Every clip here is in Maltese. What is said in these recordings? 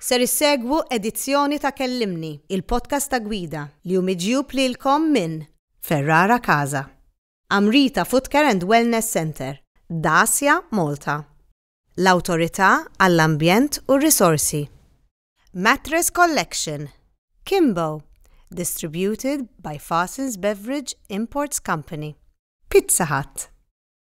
Ser issegwu edizzjoni ta' Kellimni, il-podcast ta' Gwida, li hu miġjub lilkom minn Ferrara Casa, Amrita Footcare and Wellness Centre, Dacia Malta, l-Awtorità għall-Ambjent u r-Risorsi, Mattress Collection, Kimbo, distributed by Fasens Beverage Imports Company, Pizza Hut.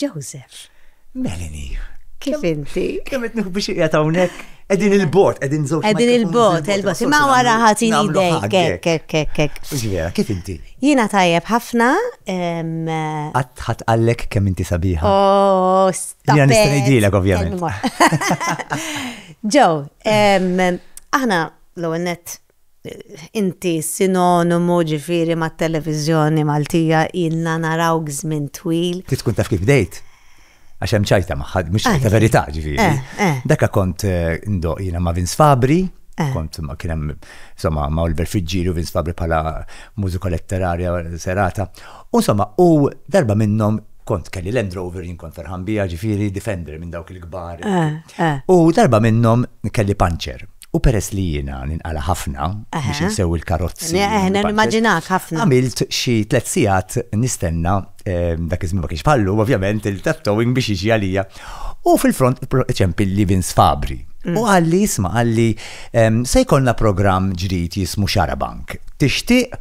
Joseph. Melanie. Kif inti? Kemm qed nieħu biex qiegħed hawnhekk? Qegħdin il-bot, qegħdin żewġ. Qegħdin il-bot, il-bot. Ma wara ħatin idejk, kek, kek, kek. Ġifiera, kif inti? Jiena tajjeb ħafna. Qatt ħadd qallek kemm inti sabiħa. Oh, stop. Jiena nista' ngħidilek ovvjament. Ġew, aħna l-ewwel nett Inti sinonimu ġifieri mat-televiżjoni Maltija, ilna narawk żmien twil. Trid tkun taf kif bdejt? Għax hemm ċajta magħha, mhux ċajta verità ġifieri. Daka kont ndoqq jiena ma' Vince Fabri, kont ma' kien hemm insomma ma' Oliver Friggieri u Vince Fabri bħala mużika letterarja serata. U insomma u darba minnhom kont kelli Land Rover jien kont ferħan biha ġifieri Defender minn dawk il-kbar. U darba minnhom kelli puncher U peress li jiena ninqala ħafna biex insewwi l-karozzi. Eħna nimmaġinak ħafna. Għamilt xi tliet sigħat nistenna ehm, dak iż-żmien ma kienx bħallu, ovvjament il-tattowing biex jiġi għalija. U fil-front ċempilli Vince Fabri. U mm. għalli jisma għalli ehm, se jkollna programm ġrid jismu Xarabank. Tixtieq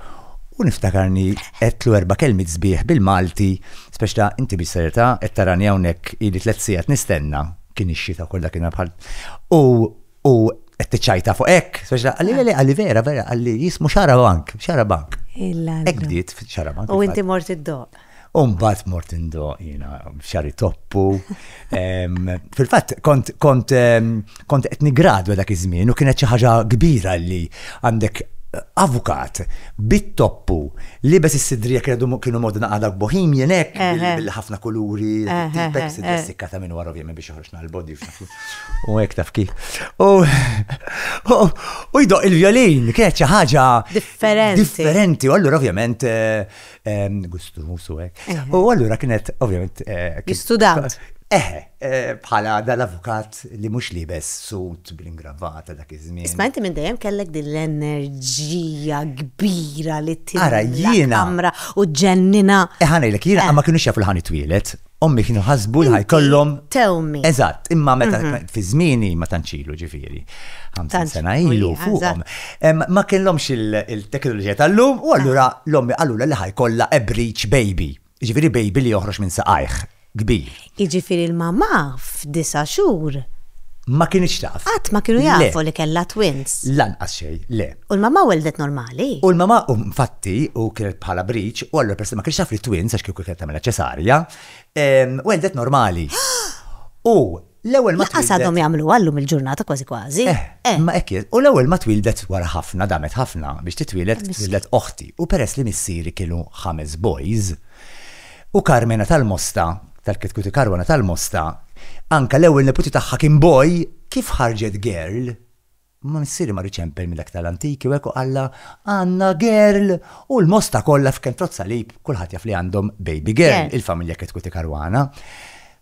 u niftakarni għetlu erba kelmi zbieħ bil-Malti, speċta inti biex serta, qed tarani hawnhekk ili tliet sigħat nistenna kien ix-xita kollha kien bħal. U U qed tiċċajta fuq hekk, speċa għalli le għalli vera vera għalli jismu xara bank, xara bank. Hekk bdiet xara bank. U inti mort id-doq. Umbat mort indo jina xari toppu. Fil-fat, kont kont kont etni gradu dak iż-żmien u kienet xi ħaġa kbira li għandek avukat bit-toppu li bes is-sidrija kienu modna għadak bohemian hekk bil-ħafna kuluri, tipek sidrija sikkata minn wara ovvjament biex Mal-body f'dak. U hekk taf kif. U jdoq il-violin, kienet xi ħaġa. Differenti. Differenti. U allura ovvjament gustu musu hekk. U allura kienet ovvjament. Student. Eh, bħala dal-avukat li mhux libes sut bl-ingravata dak iż-żmien. Isma' inti minn dejjem kellek din l-enerġija kbira li tira. Ara jiena. Kamra u ġennina. Eħanejlek jiena ma kienux jafu l-ħani twilet. ommi kienu ħasbu li ħajkollhom. Tewmi. Eżatt, imma meta mhm. fi żmieni ma tanċilu ġifieri. Ħamsin sena ilu fuqhom. Ma kellhomx il-teknoloġija tal-lum u allura ah. l-ommi qalula li ħajkollha a breach baby. Ġifieri baby li joħroġ minn saqajh kbir. Ġifieri l-mamma f'disa' xhur. Ma kienx taf. Qatt ma kienu jafu li kellha twins. Lanqas xejn, le. U l-mamà weldet normali? U l-mamà infatti, u kienet bħala briċ, u allura peress ma kienx jaf li twins għax kieku kienet tagħmilha ċesarja, weldet normali. U l-ewwel ma twildet. Laqas għadhom jagħmluha llum il-ġurnata kważi kważi. Eh, eh. Imma hekk hi. U l-ewwel ma twildet wara ħafna, damet ħafna biex titwieled, twildet oħti. U peress li missieri kienu ħames boys, u Karmena tal-Mosta, tal-Kitkuti Karwana tal-Mosta, anka l-ewwel neputi tagħha kien boy, kif ħarġet girl? Imma missieri mar iċempel mill-aktar antiki u hekk u qallha, Għandna girl! U l-Mosta kollha f'Ken Trott Salib kulħadd jaf li għandhom baby girl, il-familja Ketkuti Caruana.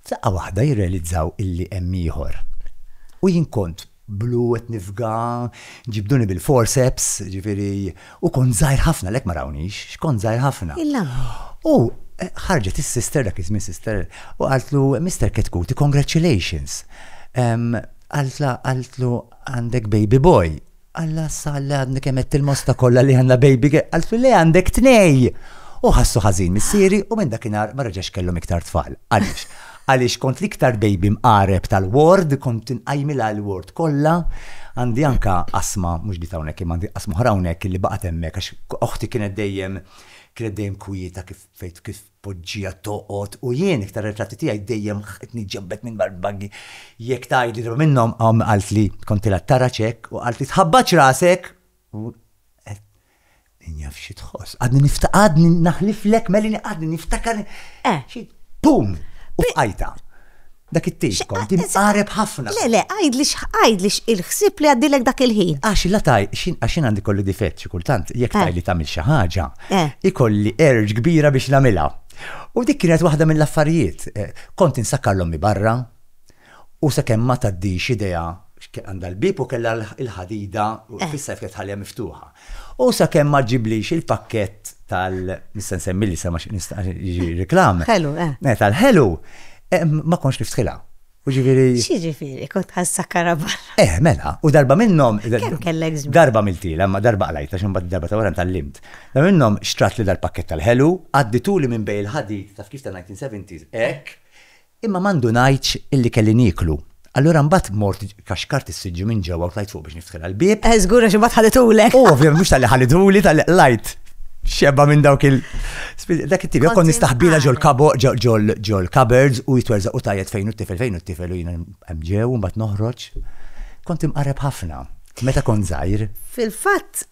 F'daqqa waħda jirrealizzaw illi hemm ieħor. U jien kont blu qed nifga, ġibduni bil-forceps, jiġifieri U kont żgħir ħafna għalhekk ma rawniex, x'kont żgħir ħafna. Il-lampi. U ħarġet is-sister dak iż-żmien sister u qaltlu Mister Ketkuti, congratulations. Qaltla qaltlu għandek baby boy. Alla sa li għadni kemm qed il-mosta kollha li għandna baby girl. Qaltlu le għandek tnej. U ħassu ħażin missieri u minn dakinhar ma reġax kellhom iktar tfal. Għaliex? Għaliex kont l-iktar baby mqareb tal-ward, kont inqajmilha l-ward kollha. Għandi anke qasma, mhux dit hawnhekk imma għandi qasma oħra hawnhekk illi baqgħet hemmhekk għax oħti kienet dejjem, kienet dejjem kwieta kif fejn kif tpoġġiha toqgħod u jien iktar ritratti tiegħi dejjem qed niġġenbed minn wara l-bangi. Jekk tgħidli dwar minnhom, ommi qaltli kontilha tarax hekk u qaltli tħabbatx rasek u Min jaf xi tħoss. Għadni nifta għadni naħliflek melini għadni niftakar. Eh. Xi pum! U fqajta. Dak it-tejx kont din qareb ħafna. Le, le, għajdli x'għajdli il-ħsieb li għaddilek dak il-ħin. Għax la taj, għax jien għandi kolli difett xi kultant, jekk Eh. tajli tagħmel xi ħaġa, Eh. ikolli erġ kbira biex nagħmilha. U dik kienet waħda mill-affarijiet. eh, Kont insakkar l-ommi barra, U sakemm ma tgħaddix idea x'kien għandha l-bieb u kellha l-ħadida fissa kif qed tħalliha miftuħa. U sakemm ma ġġiblix il-pakkett tal nista' nsemmi l-isem għax nista' jiġi reklam. Ħelu, eh. Tal-ħelu, ma kontx niftħilha. U ġifieri. X'jiġifieri, kont ħa nsakkarha barra. Eh, mela, u darba minnhom. Kemm kellek żmien? Darba għamiltilha, imma darba qlajtha xi mbagħad id-darba ta' wara ntgħallimt. Darba minnhom xtratli dal-pakkett tal-ħelu, għaddituli minn bejn il-ħadid, taf kif tan-1970s, hekk, Imma ma ndunajtx illi kelli nieklu. Allura mbagħad mort kaxkart is-siġġu minn ġewwa u tlajt fuq biex niftkilha l-bieb. Eh, żgur għax imbagħad ħadithulek. U ovvjament mhux talli ħadithuli, talli qlajt xebgħa minn dawk il. Dak it-tip, jew kont nistaħbilha ġol-cupboards u jitwerżaq u tgħajjat fejn hu t-tifel, fejn hu t-tifel u jiena hemm ġew u mbagħad noħroġ. Kont imqarreb ħafna meta kont żgħir. Fil-fatt,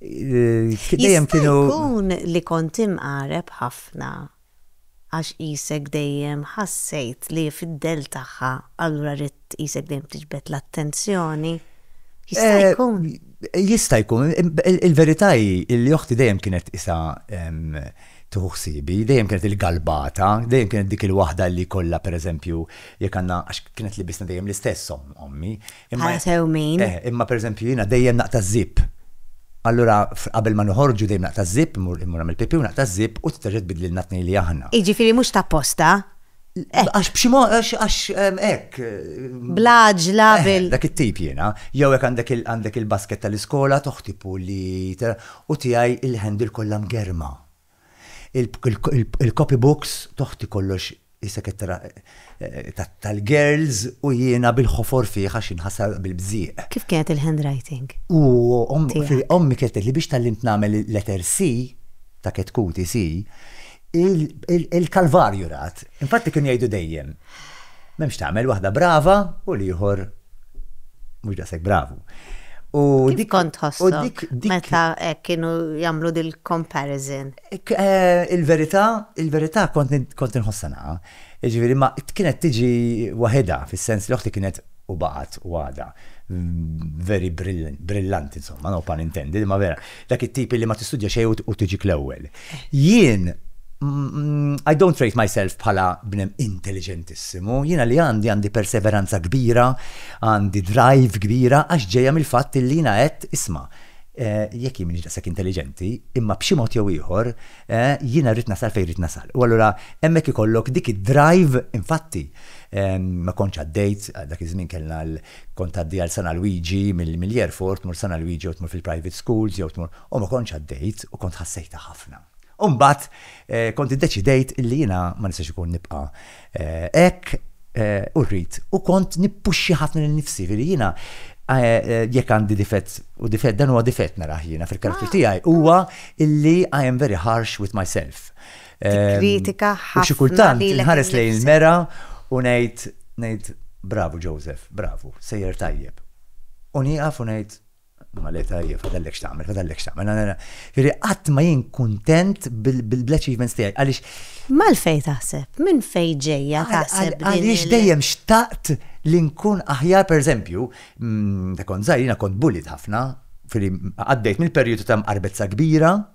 Dejjem kienu. Jkun li kont imqareb ħafna għax qisek dejjem ħassejt li fid-dell tagħha allura ridt qisek dejjem tiġbed l-attenzjoni? Jista' jkun. Jista' jkun. Il-verità hi li oħti dejjem kienet tqisha tieħu ħsiebi, dejjem kienet il-galbata, dejjem kienet dik il-waħda li jkollha pereżempju jekk għandna għax kienet libisna dejjem l-istess ommi. Imma sew min. Eh, imma pereżempju jiena dejjem naqta' żip. Allura qabel ma noħorġu dejjem naqta' żip, imur imur nagħmel pipi u naqta' żip u tterġa' tbidlilna tnej li aħna. Jiġifieri mhux ta' posta. Eh. Għax b'xi mod għax hekk. Bl-għaġla eh, bil. Dak it-tip jiena, jew hekk għandek għandek il-basket tal-iskola toħtipu li u tiegħi il-handle kollha mgerma. Il-copybooks, t'oħti kollox isek qed tara tal-girls u jiena bil-ħofor fih għax inħasar bil-bżieq. Kif kienet il-handwriting? Ommi kienet tgħidli biex tgħallimt nagħmel il-letter C, ta' ketkuti C, il-kalvarju rat. Infatti kienu jgħidu dejjem. M'hemmx tagħmel waħda brava u l-ieħor mhux daqshekk bravu. U dik kont ħossok meta kienu jagħmlu dil-comparison. Eh, il-verità, il-verità kont kont inħossana. Jiġifieri ma kienet tiġi waħedha fis-sens li oħti kienet u baqgħet u għadha very brillant, brillant insomma, no pun intended, imma vera, dak it-tip li ma tistudja xejn u tiġik l-ewwel. Jien I don't rate myself bħala bnem intelligentissimu, jiena li għandi għandi perseveranza kbira, għandi drive kbira għax ġejja mill-fatt li jiena għedt isma' eh, jekk jien minix daqshekk intelligenti, imma b'xi mod jew ieħor eh, jiena rrid nasal fejn rrid nasal. U allura hemmhekk ikollok dik id-drive infatti Ma kontx għaddejt, dak iż-żmien kellna l, kont tgħaddi għal San Alwiġi mill-airport, tmur San Alwiġi jew tmur fil-private schools jew tmur, u ma kontx għaddejt u kont ħassejtha ħafna. U mbagħad kont iddeċidejt illi jiena ma nistax ikun nibqa' hekk u rrid, u kont nippuxxja ħafna lil nifsi, jiġifieri jiena jekk għandi difett, u difett, dan huwa difett narah jiena fil-karattru tiegħi, huwa illi I am very harsh with myself. tikkritika ħafna. U xi kultant inħares lejn il-mera u ngħid ngħid bravu Joseph, bravu, sejjer tajjeb. U nieqaf u ngħid Ma le tajjeb, fadallek x'tagħmel, fadallek x'tagħmel. Jiġri qatt ma jien kuntent bil-achievements tiegħi għaliex. Malfej taħseb, minn fej ġejja taħseb. Għaliex dejjem xtaqt li nkun aħjar pereżempju, mm, ta' kont żgħir jiena kont bullied ħafna, għaddejt mill-perjodu ta' mqarbezza kbira,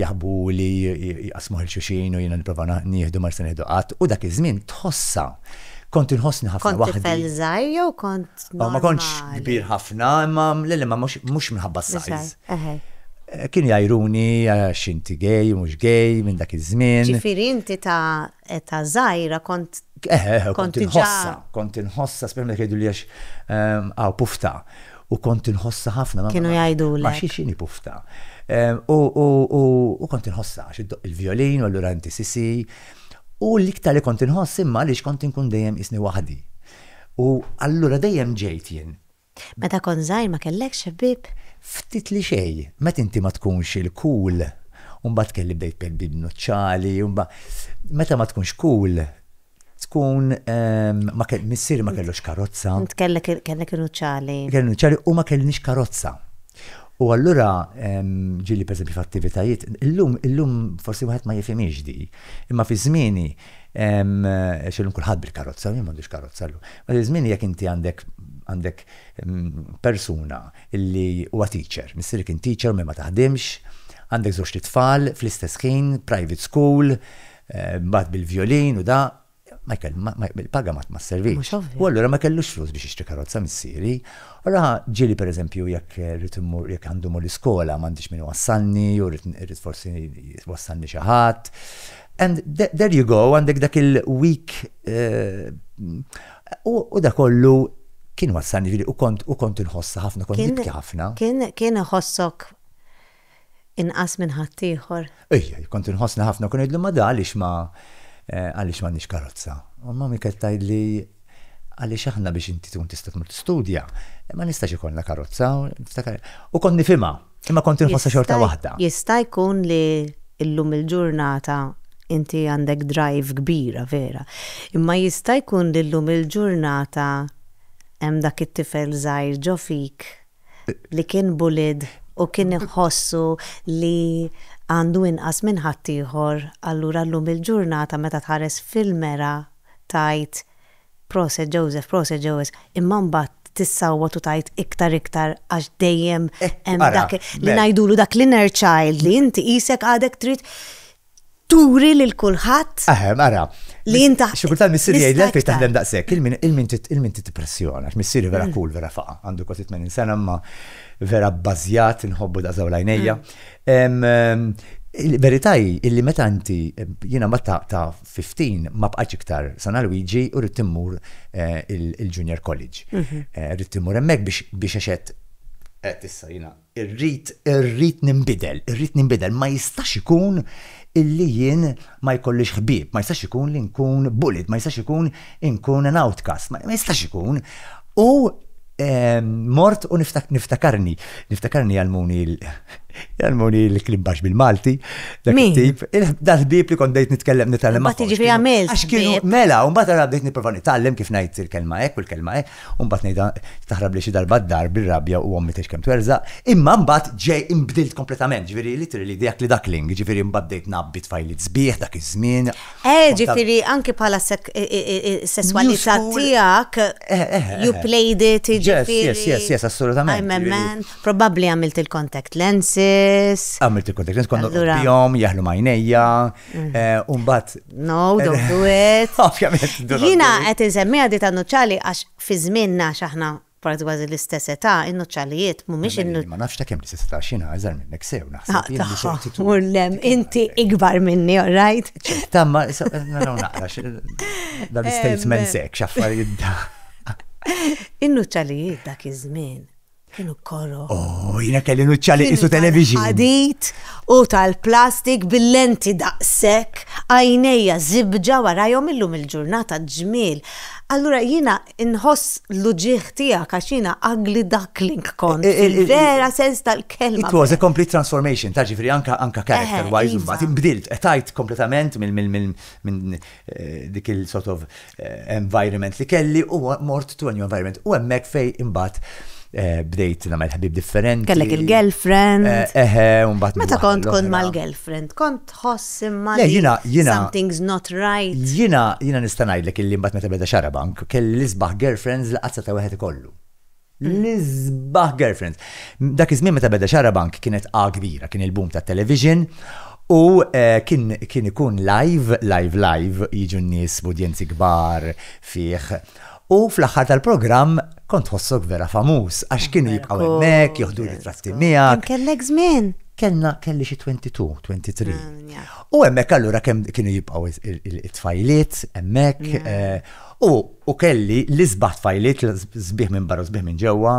jaħbu li jqasmu ħil xuxin u jiena nipprova nieħdu ma se nieħdu qatt u dak iż-żmien tħossha. Kont inħossni ħafna waħdi. Kont żgħir jew kont. Ma kontx kbir ħafna, imma lili ma mhux minħabba s-sajz. Kien jgħiruni għax inti gej, mhux gej minn dak iż-żmien. Ġifieri inti ta' Età żgħira kont. Eħe, eħe, kont inħossha, kont inħossha, speċjalment jekk jgħiduli għax hawn pufta. U kont inħossha ħafna. Kienu jgħidulek. Ma xiex inhi pufta. U kont inħossha għax iddoqq il-vjolin u allura inti sisi. U l-iktar li kont inħoss imma għaliex kont inkun dejjem qisni waħdi. U allura dejjem ġejt jien. Meta kont żgħir ma kellekx ħbieb? Ftit li xejn. Meta inti ma tkunx il-cool, u mbagħad kelli bdejt per di b'nuċċali, u mba. Meta ma tkunx cool, tkun ma ke, missieri ma kellux karozza. Int kellek, kellek in-nuċċali. Kelli n-nuċċali u ma kellniex karozza. U allura ġieli per eżempju f'attivitajiet, illum, illum forsi wieħed ma jifhimhiex di, imma fi żmieni, Għax illum kulħadd bil-karozza, u jien m'għandix karozza llum. Dak iż-żmien jekk inti għandek għandek persuna li huwa teacher, missierek kien teacher u mhi ma taħdimx, għandek żewġt itfal fl-istess ħin, private school, mbagħad bil-vjolin u da, ma il-paga ma sservix. U allura ma kellux flus biex jixtri karozza missieri. Allura ġieli pereżempju jekk irrid immur jekk għandi mmur l-iskola m'għandix min iwassalni jew irrid forsi jwassalni xi ħadd. And there you go, għandek dak il-week eh, u da kollu kien wassan ġiri u kont u kont inħossa ħafna, kont nibki ħafna. Kien kien iħossok inqas minn ħaddieħor. Ejja, kont inħossna ħafna kun ngħidlu ma da għaliex ma eh, għaliex ma nix karozza. U ma mi keltajli Għaliex aħna biex inti tkun tista' tmur tistudja, ma nistax ikollna karozza, niftakar. U kont nifhimha, imma kont inħossha xorta waħda. Jista' jkun li llum il-ġurnata inti għandek drive kbira, vera, imma jista' jkun li llum il-ġurnata hemm dak it-tifel żgħir ġo fik li kien bullied u kien iħossu li għandu inqas minn ħaddieħor, allura llum il-ġurnata meta tħares fil-mera tgħid proset Joseph, proset Joseph, imma mbagħad tissawwat u tgħid iktar iktar għax dejjem hemm dak li ngħidulu dak l-inner child li inti qisek għadek trid turi lil kulħadd. Eħem, ara. Li inta. Xi kultant missieri jgħid l fejn taħdem daqshekk, il-min il-min il-min titpressjona, missieri vera mm. cool, vera faqa, għandu kważi 80 sena ma vera bbażjat inħobbu daqsaw lajnejja. Mm. Il-verità hi illi meta inti jiena ma ta' 15 ma bqax iktar sana Luigi u rrid timmur eh, il-junior college. Mhm. Eh, rrid timmur hemmhekk biex biex għaxet qed issa jiena Irrid, irrid ninbidel, irrid ninbidel. Ma jistax ikun illi jien ma jkollix ħbieb, ma jistax ikun li nkun bullied, ma jistax ikun inkun an outcast, ma jistax ikun. U mort u niftakarni, niftakarni jgħallmuni jgħallmuni l-klim baxx bil-Malti, dak it-tip, dal-ħbieb li kont bdejt nitkellem nitkellem. Ma tiġi għamilt. Għax kienu, mela, u mbagħad għara bdejt nipprova nitgħallem kif ngħid il-kelma hekk u l-kelma hekk. u mbagħad ngħidha taħrab lil xi darba d-dar bir-rabja u ommi tgħix kemm twerżaq, imma mbagħad ġej inbdilt kompletament, ġifieri literally the ugly duckling, jiġifieri mbagħad bdejt ngħabbi tfajliet sbieħ dak iż-żmien. Eh, ġifieri anki bħala s-sesswalità tiegħek you played it, jiġifieri. Yes, yes, yes, assolutament. I'm a man, probabbli għamilt il-contact lenses. Għamilt il-contact lenses, konna nqobbihom, jaħlu m'għajnejja. Eh, umbat. No, don't do it. Jina għet nsemmi għaddi ta' nuċali għax fi zminna xaħna parti għazi l-istess età, in-nuċalijiet, mumiex in Ma nafx ta' kem l-istess età xina għazar minnek sew, naħseb. Urlem, ah, inti ikbar minni, all right? Tamma, naraw naqra, dan statement sek, xaffarijiet da. In-nuċalijiet dak iż-żmien. Kienu koro. Oh, jina kelli nuċċa li isu television. Għadit u tal-plastik bil-lenti daqsek, għajnejja zibġa warajom illum il-ġurnata ġmil. Allura jina inħoss l-uġieħ tijak għax jina ugly duckling kont. Eh, eh, eh, vera sens tal-kelma. It was a complete transformation, ta' ġifri anka anka character wise, iva. mbagħad imbdilt, etajt kompletament minn dik il-sort of environment li kelli u mort to a new environment. U hemmhekk fej imbagħad eh, bdejt nagħmel ħbib differenti. Kellek il-girlfriend. Eh, Eħe, u mbagħad. Meta kont l-oħra. kont mal-girlfriend, kont tħoss imma Le, li jiena- jiena- something's not right. Jina, jina nista' ngħidlek illi mbagħad meta beda xarabank, kelli l-isbaħ girlfriends li qazza ta' wieħed ikollu. L-isbaħ girlfriends. Dak iż-żmien meta beda Xarabank kienet A kbira, kien il-boom tat-television u eh, kien kien ikun live, live live, jiġu n-nies b'udjenzi kbar fih. U fl-aħħar tal-programm kont tħossok vera famuż għax kienu jibqgħu hemmhekk, joħdu ritratti Kemm miegħek. kellek żmien? Kellna kelli xi 22, 23. Ah, ja. U hemmhekk allura kemm kienu jibqgħu it-tfajliet hemmhekk eh, U, u kelli l-isbaħ tfajliet, sbieħ minn barra u sbieħ minn ġewwa,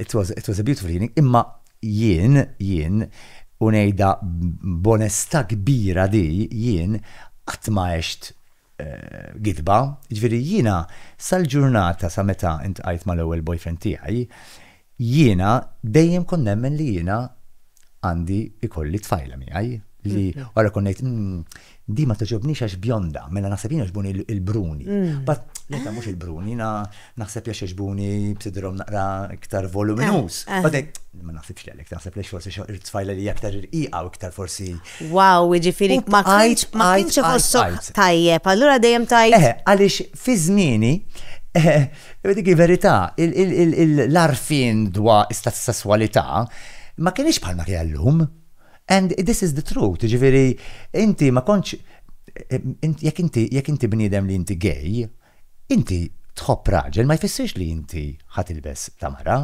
it was, it was a beautiful evening, imma jien, jien, u ngħidha b'onestà kbira di, jien qatt ma għext gidba, jiġifieri jiena sal-ġurnata sa meta iltqajt mal-ewwel boyfriend tiegħi, Jiena dejjem kont nemmen li jiena għandi ikolli tfajla miegħi li wara jkun ngħid mm, di ma toġobnix għax bjonda, mela naħseb jiena ġbuni il-bruni. Mm. But leta mhux il-bruni, jiena naħseb li ġbuni b'sidrom naqra iktar voluminus. Eh, eh. But ma naħsibx li għalek, naħseb li forsi il-tfajla li aktar irqiqa u iktar forsi Wow, jiġifieri ma kienx ma kienx iħossok tajjeb, allura dejjem tajt. Eh, għaliex fi żmieni eh, dik verità, l-arfin dwa istat sesswalità ma kienx bħalma kien llum. And this is the truth, ġifieri inti ma kontx eh, jekk inti jekk inti bniedem li inti gay, Inti tħobb raġel ma jfissirx li inti ħa tilbes ta' mara.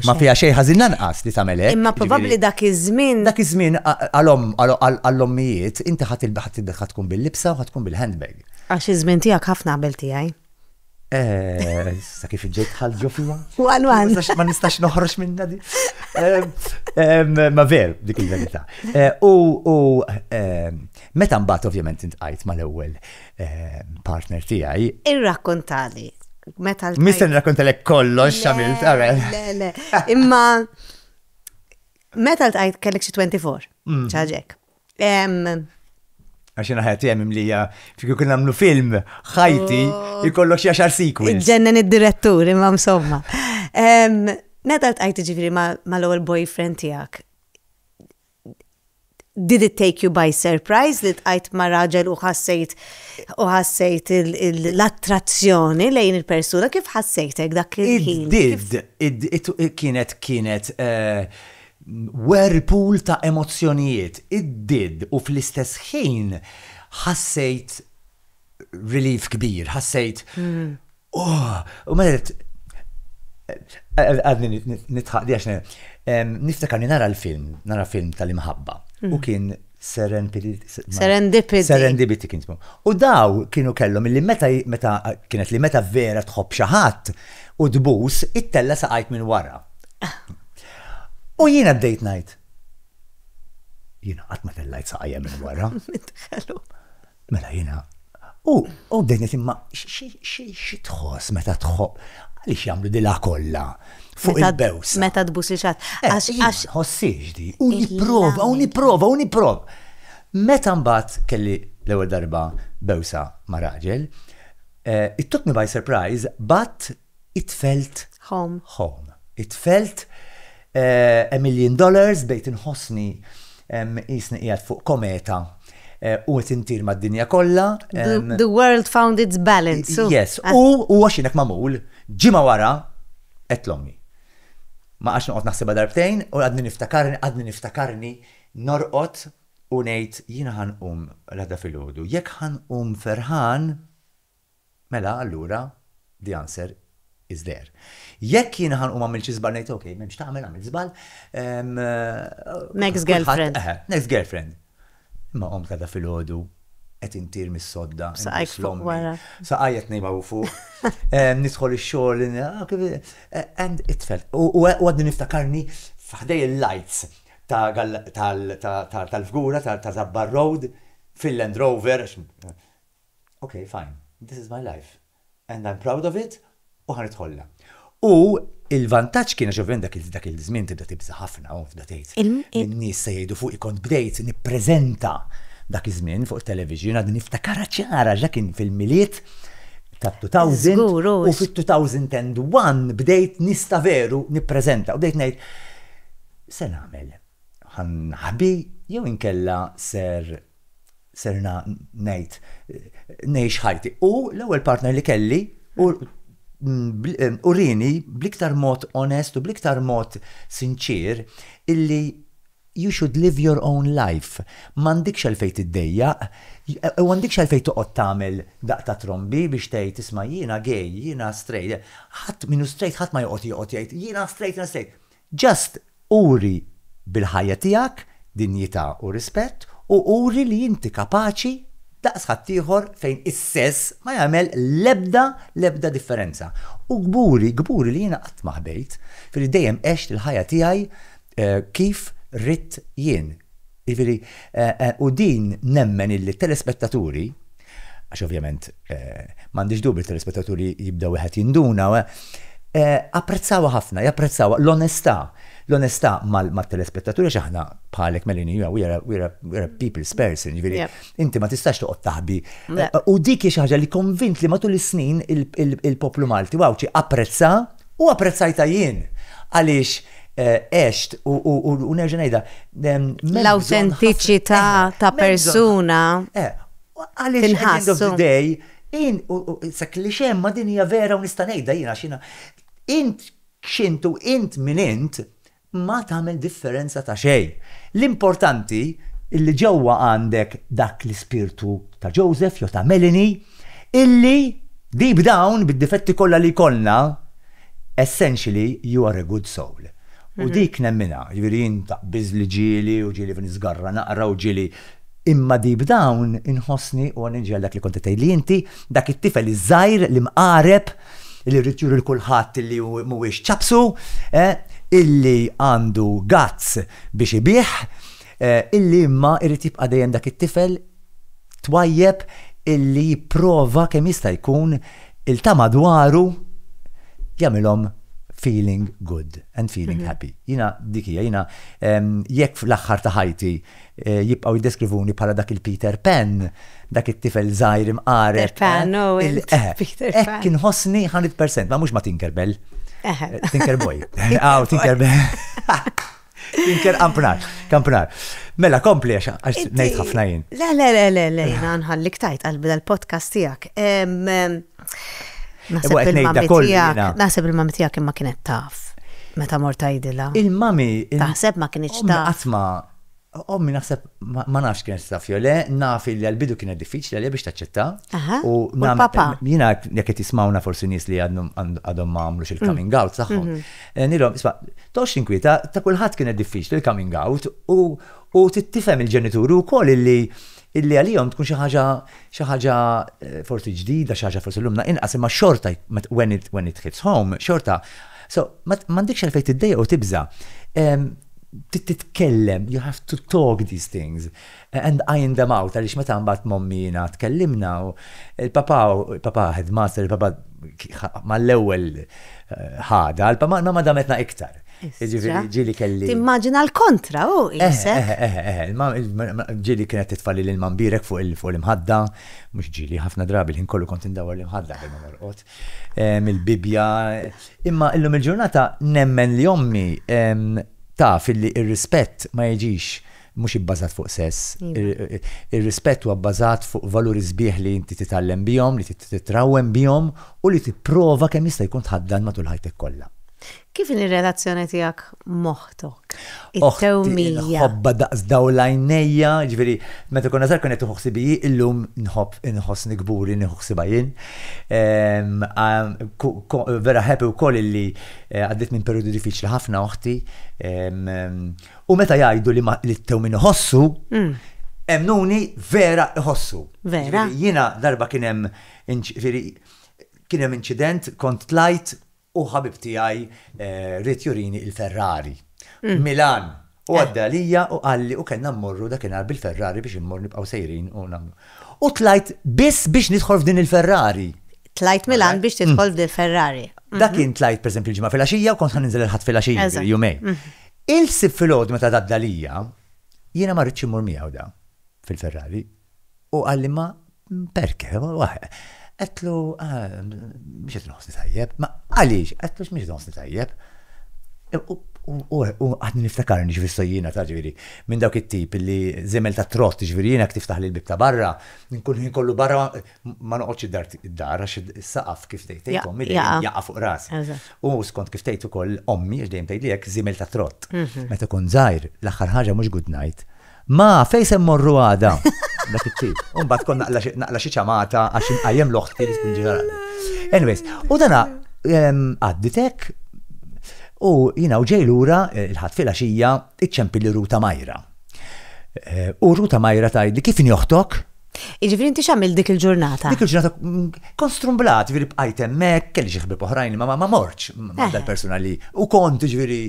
Ma fiha xejn ħażin lanqas li tagħmel hekk. Imma probabbli dak iż-żmien. Dak iż-żmien għall-ommijiet inti ħa tkun bil-libsa u ħa tkun bil-handbag. Għax iż-żmien tiegħek ħafna qabel tiegħi. Sa kif ġejt dħalt ġo fija? One one. Ma nistax noħroġ minnha di. Ma ver, dik il-verità. U meta mbagħad ovvjament intqajt mal-ewwel partner tiegħi. Irrakkontali. Meta l Mister nirrakkontalek kollox x'għamilt, għamel. Le, le. Imma meta l-tajt kellek xi 24, mm. ċaġek. Għax jena ħajti għem imlija, fiku kun għamlu film, ħajti, oh. jikollok xaxar sikwi. Ġennen id-direttur, imma msomma. Meta l-tajt ġifiri ma l-ewel boyfriend tijak, Did it take you by surprise li ltqajt ma' raġel u ħassejt u ħassejt l-attrazzjoni lejn il-persuna? Kif ħassejtek dak il-ħin? It did. It kienet kienet whirlpool ta' emozzjonijiet. It did u fl-istess ħin ħassejt relief kbir, ħassejt. Hmm. Oh, u ma għed, għadni nitħaq di għaxna, niftakarni nara l-film, nara film tal-imħabba. U hmm. kien Serendipity. Serendipity kien jismu. U daw kienu kellhom illi meta meta kienet li meta vera tħobb xi ħadd u tbus it-tella saqajt minn wara. U jiena bdejt ngħid. Jiena qatt ma tellajt saqajja minn wara. Mela jiena, u, u bdejt ngħid imma xi tħoss meta tħobb għaliex jagħmlu dilha kollha fuq il-bews. Meta tbus li xatt. Eh, għax għax. Ħossiex di. U nipprova, u nipprova, u nipprova. Meta mbagħad kelli l-ewwel darba bewsa ma' raġel, eh, it took me by surprise, but Itfelt Home. Home. Itfelt eh, a million dollars bejt inħossni em, jisni qiegħed fuq kometa eh, u qed intir mad-dinja kollha. The, em, the world found its balance. so- Yes, Ah, u u għax jinek mamul, ġimgħa wara qed l-ommi. Ma għax noqgħod naħsibha darbtejn u għadni niftakarni, għadni niftakarni norqod u ngħid jiena ħanqum l-għada filgħodu. Jekk ħanqum ferħan, Mela allura the answer is there. Jekk jiena ħa nqum għamilt xi żball ngħid ok, m'hemmx x'tagħmel għamilt żball. Next girlfriend. Eħe, next girlfriend. Imma qomt għada filgħodu qed intir mis-sodda. B'saqajk fuq wara. Saqajja t-tnejn hawn fuq. Nidħol ix-xogħol and it-tfel. U għadni niftakarni f'ħdej il-lights tal-fgura ta' Żabbar Road fil-Land Rover, Ok, fine. This is my life. And I'm proud of it u ħa nidħollha. U l-vantaġġ kien, għax ovvjament dak iż-żmien tibda tibża' ħafna u tibda tgħid min nies se jgħidu fuqi kont bdejt nippreżenta dak iż-żmien fuq it-television għadni niftakarha ċara għax dak kien fil-Milied tat-2000 u fit-2001 bdejt nies ta' veru nippreżenta u bdejt ngħid x'se nagħmel? Ħa nħbi jew inkella ser serna ngħid ngħix ħajti. U l-ewwel partner li kelli u urini bliktar mod onest u bliktar mod sinċier illi you should live your own life. M'għandikx għalfejn tiddejjaq, u għandikx għalfejn toqgħod tagħmel daqq ta' trombi biex tgħid isma' jiena gay, jiena straight. Ħadd min hu straight ħadd ma joqgħod joqgħod jgħid jiena straight, jiena straight. Just uri bil-ħajja tiegħek dinjità u rispett u uri li inti kapaċi daqs ħaddieħor fejn is-sess ma jagħmel l-ebda, l-ebda differenza. U kburi, kburi li jiena qatt ma ħbejt, filli dejjem għext il-ħajja tiegħi kif ridt jien. Jiġifieri, u din nemmen illi t-telespettaturi, għax ovvjament m'għandix dubju t-telespettaturi jibda wieħed jinduna, apprezzawha ħafna, japprezzawha l-onestà, l-onestà mat-telespettaturi għax aħna bħalek Melanie, we are a people's person, jiġifieri inti ma tistax toqgħod taħbi. U dik hi xi ħaġa li konvint li matul is-snin il-poplu Malti u Għawdxi apprezza. U apprezzajta jien għaliex għext u nerġa' ngħidha. L-awtentiċità ta' persuna. Għaliex at the end of the day, int, sa klixe imma din hija vera u nista' ngħidha jiena għax jiena, int x'int u int min int, ma tagħmel differenza ta' xejn. L-importanti li ġewwa għandek dak l-ispirtu ta' Joseph jew ta' Melanie illi deep down, bid-difetti kollha li jkollna, essentially you are a good soul. U dik nemminha, jiġifieri jien taqbiż li ġieli u ġieli niżgarra naqra u ġieli imma deep down inħossni u għan-nirġa' għal dak li kont qed tgħidli inti, dak it-tifel iż-żgħir l-imqareb, illi rrid juri l kulħadd illi hu mhuwiex ċapsu, eh, illi għandu guts biex ibigħ, eh, illi imma irid jibqa' dejjem dak it-tifel twajjeb illi jipprova kemm jista' jkun il ta' madwaru jagħmilhom feeling good and feeling mhm. happy. Jina dik hija, jina ehm, jekk fl-aħħar ta' ħajti Jibqgħu jiddeskrivuni bħala dak il-Peter Pan, dak it-tifel żgħir imqareb. Peter Pan, no, Peter Pan. Hekk inħossni 100%, ma mhux ma Tinkerbell. Tinkerboy. Aw, Tinkerbell. Tinker kampnar, kampnar. Mela, kompli għax nejt ħafna jien. Le, le, le, le, le, jina nħallik tajt għalbi dal-podcast tijak. Nasib il-mami tijak imma kienet taf. Meta mor tajdila. Il-mami. Taħseb ma kienieċ taf. Għatma Ommi naħseb ma nafx kienet taf jew le, naf li għal-bidu kienet diffiċli għalija biex taċċetta. U papa. Jiena jekk qed jismawna forsi nies li għadhom ma għamlux il-coming mm. out tagħhom. Mhm. Eh, nilhom, isma' tox inkwieta ta' kulħadd kienet diffiċli il-coming out u tifhem il-ġenituri wkoll li illi għalihom tkun xi ħaġa xi ħaġa eh, forsi ġdida, xi ħaġa forsi lumna inqas imma xorta when it, when it hits home, xorta. So, m'għandekx għalfejn tiddejja u tibża. Titkellem, you have to talk these things eh, and iron them out għaliex meta mbagħad mommi jiena tkellimna u il-papa il-papa headmaster il-papa mal-ewwel eh, ħada, il-papa ma dametna iktar. Ġifieri ġili kelli. Timmaġina l-kontra u eh, isek. Eh, eh, ġili kienet titfalli lil mambirek fuq il-imħadda, mhux ġili ħafna drabi l-ħin kollu kont indawar l-imħadda bil norqod. Il-Bibja. Imma illum il-ġurnata nemmen li ommi taf li ir-rispett ma jiġix mhux ibbażat fuq sess. Iva. Ir-rispett huwa bbażat fuq valuri sbieħ li inti titgħallem bihom, li titrawwem bihom u li tipprova kemm jista' jkun tħaddan matul ħajtek kollha. Kif inhi r-relazzjoni tiegħek m'oħtok? It-tewmija. Ħobba daqs dawl l-għajnejja, ġifieri meta konna żgħar kien qed nieħu ħsieb hi, illum nħobb inħossni kburi nieħu ħsiebha jien. Vera happy wkoll illi għaddiet minn perjodu diffiċli ħafna oħti. U meta jgħidu li t-tewmin iħossu, emnuni vera iħossu. Vera. Jiena darba kien hemm kien hemm inċident, kont tlajt U ħabib tiegħi ried jurini il-Ferrari. Milan. U għadda għalija u qalli u kellna mmorru dakinhar bil-Ferrari biex immorru nibqgħu sejrin u nagħmlu. U tlajt biss biex nidħol f'din il-Ferrari. Tlajt Milan biex tidħol f'din il-Ferrari. Dak kien tlajt pereżempju l-Ġimgħa filgħaxija u kont ħa ninżel il-Ħadd filgħaxija, ġifieri jumejn. Il-Sibt filgħodu meta għadda għalija, jiena ma ridtx immur miegħu da fil-Ferrari. U qal li ma perke, għedtlu mhux qed inħossni tajjeb, ma għaliex, għedtlu x'mhux qed inħossni tajjeb. U għadni niftakarni ġifieri sojjina ta' ġifieri minn dawk it-tip li żiemel ta' trott ġifieri jiena jekk tiftaħli l-bieb ta' barra nkun il-ħin kollu barra ma noqgħodx id-dar għax is-saqaf kif tgħid int ommi dejjem jaqa' fuq rasi. U skont kif tgħid ukoll ommi għax dejjem tgħidli hekk żiemel ta' trott. Meta kont żgħir l-aħħar ħaġa mhux good night Ma, fej se mmorru għada? Dak it-tip. Umbagħad kont naqla xi ċamata għax inqajjem l-oħti li tkun ġenerali. Anyways, u dana għadditek u jina u ġej lura eh, il-ħadd fil xija iċċempilli ruta majra. Eh, u ruta majra tgħidli kif joħtok? Jiġifieri inti x'għamilt dik il-ġurnata? Dik il-ġurnata kont strumblat, jiġifieri bqajt hemmhekk, kelli xi ħbieb oħrajn li ma mortx ma' dal-persuna li u kont jiġifieri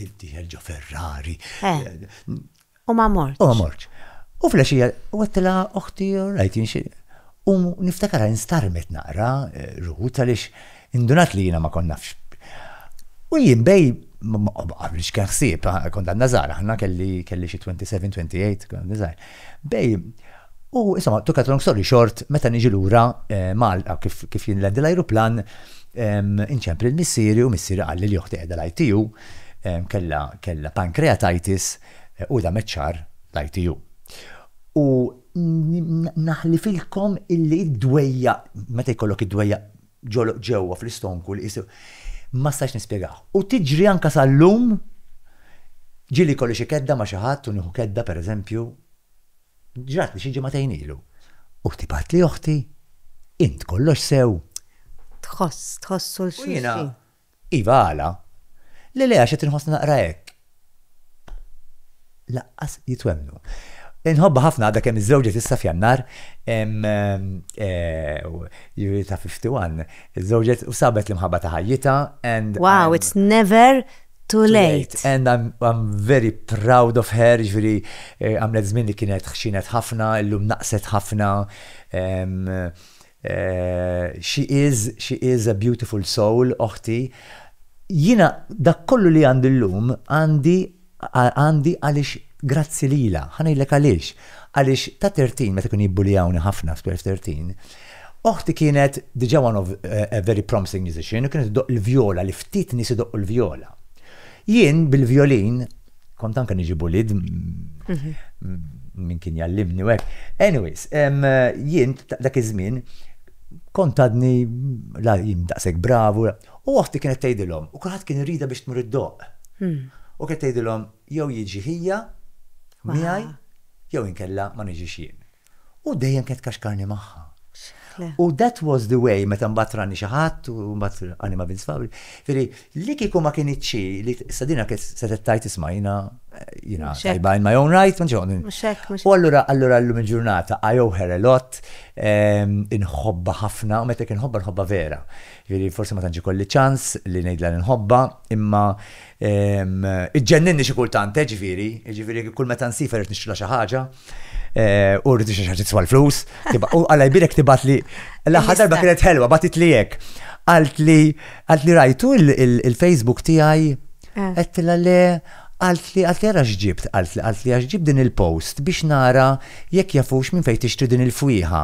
id-dieħel ġo Ferrari. U ma mortx. U ma mortx. U fl-għexija għedtilha oħti, all right, jien xi. U niftakar instarmet naqra Ruth għaliex Indunat li jiena ma kont nafx. U jien bej m'għamiltx kien ħsieb, kont għadna żgħar aħna, kelli kelli xi 27, 28, kont għadni żgħir. Bej, u insomma, to cut a long story short, meta niġi lura Malta kif kif jinlandi l-ajruplan, inċemp lil missieri u missieri qalli li oħti qiegħda l-ITU, kellha kellha pancreatitis u damet xahar l-ITU. U naħlifilkom illi d-dwejjaq, meta jkollok id-dwejjaq ġoloq ġewwa fl-istonku li qisu ma stajtx nispjegah. U tiġri anke sal-lum, ġieli jkolli xi kedda ma' xi ħadd u nieħu kedda pereżempju, ġratli xi ġimagħtejn ilu, u tibgħatli oħti, Int kollox sew? Tħoss, tħossu 'l xulxin. Iva, għala? Le, le, għax qed inħossni naqra hekk. Lanqas jitwemmnu. Inħobbha ħafna għadha kemm iżżewġet issa f'Jannar, jiġifieri ta' 51, iżżewġet u sabet l-imħabba ta' ħajjitha and. Wow, it's never too late. And I'm very proud of her, jiġifieri għamlet żmien li kienet ħxinet ħafna, illum naqset ħafna. She is, she is a beautiful soul, oħti. Jiena dak kollu li għandi llum għandi għandi għaliex grazzi lilha. Ħa ngħidlek għaliex. Għaliex ta' 13 meta kienu jibbulijawni ħafna f' 12, 13, oħti kienet diġà one of a very promising musician u kienet iddoqq il-vjola li ftit nies idoqqu l-vjola. Jien bil-vjolin, kont anke niġi bulid minn kien jallimni u hekk. Anyways, jien dak iż-żmien kont għadni la jien daqshekk bravu, u oħti kienet tgħidilhom, u kulħadd kien iridha biex tmur iddoqq. U kienet tgħidilhom jew jiġi ħija miegħi jew inkella ma niġix jien. u dejjem kienet kaxkarni magħha. U that was the way, meta mbagħad rani xi ħadd u mbagħad għani ma' Vince Fabri. Firi, li kieku ma kienitx xi li sadina kienet se tettajt isma' jiena jiena tajba in my own right, ma ġewni. U allura allura llum il-ġurnata I owe her a lot, ehm, inħobba ħafna, u meta kien ħobba nħobba vera. Firi, forsi ma tantx ikolli ċans li ngħidla li nħobba, imma Iġġenninni xi kultant, eh, ġifieri, jiġifieri kull meta nsifha rrid nixtrilha xi ħaġa, u rrid nixtri xi ħaġa tiswa l-flus, u Alla jbierek tibgħatli. L-aħħar darba kienet ħelwa, bagħtitli hekk. Qaltli, qaltli rajtu l-Facebook tiegħi? Eh. Għedtilha le, qaltli, qaltli ara x'ġibt, qaltli, qaltli għax ġibt din il-post biex nara jekk jafux minn fejn tixtri din il-fwieħa.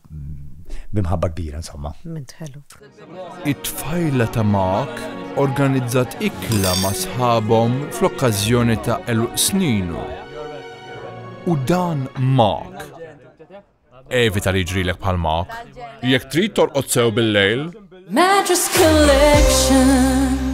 bi mħabba kbira insomma. Mument ħelu. It-tfajla ta' Mark organizzat ikla ma' sħabhom fl-okkażjoni ta' eluq sninu. U dan Mark. Evita li ġrilek bħal Mark. Jekk trid torqod sew bil-lejl. Mattress Collection.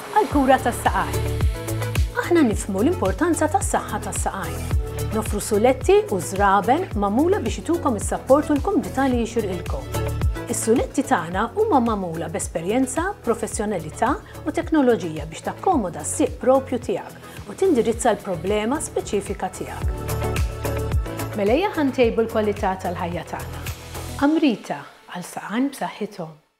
għall-kura tas-saqajn. Aħna nifhmu l-importanza tas-saħħa tas-saqajn. Noffru suletti u żraben magħmula biex itukom is-sapport u l-kumdità li jixirqilkom. Is-suletti tagħna huma magħmula b'esperjenza, professjonalità u teknoloġija biex takkomoda s-sieq proprju tiegħek u tindirizza l-problema speċifika tiegħek. Mela ejja ħa ntejbu l-kwalità tal-ħajja tagħna. Amrita, għal saqajn b'saħħithom.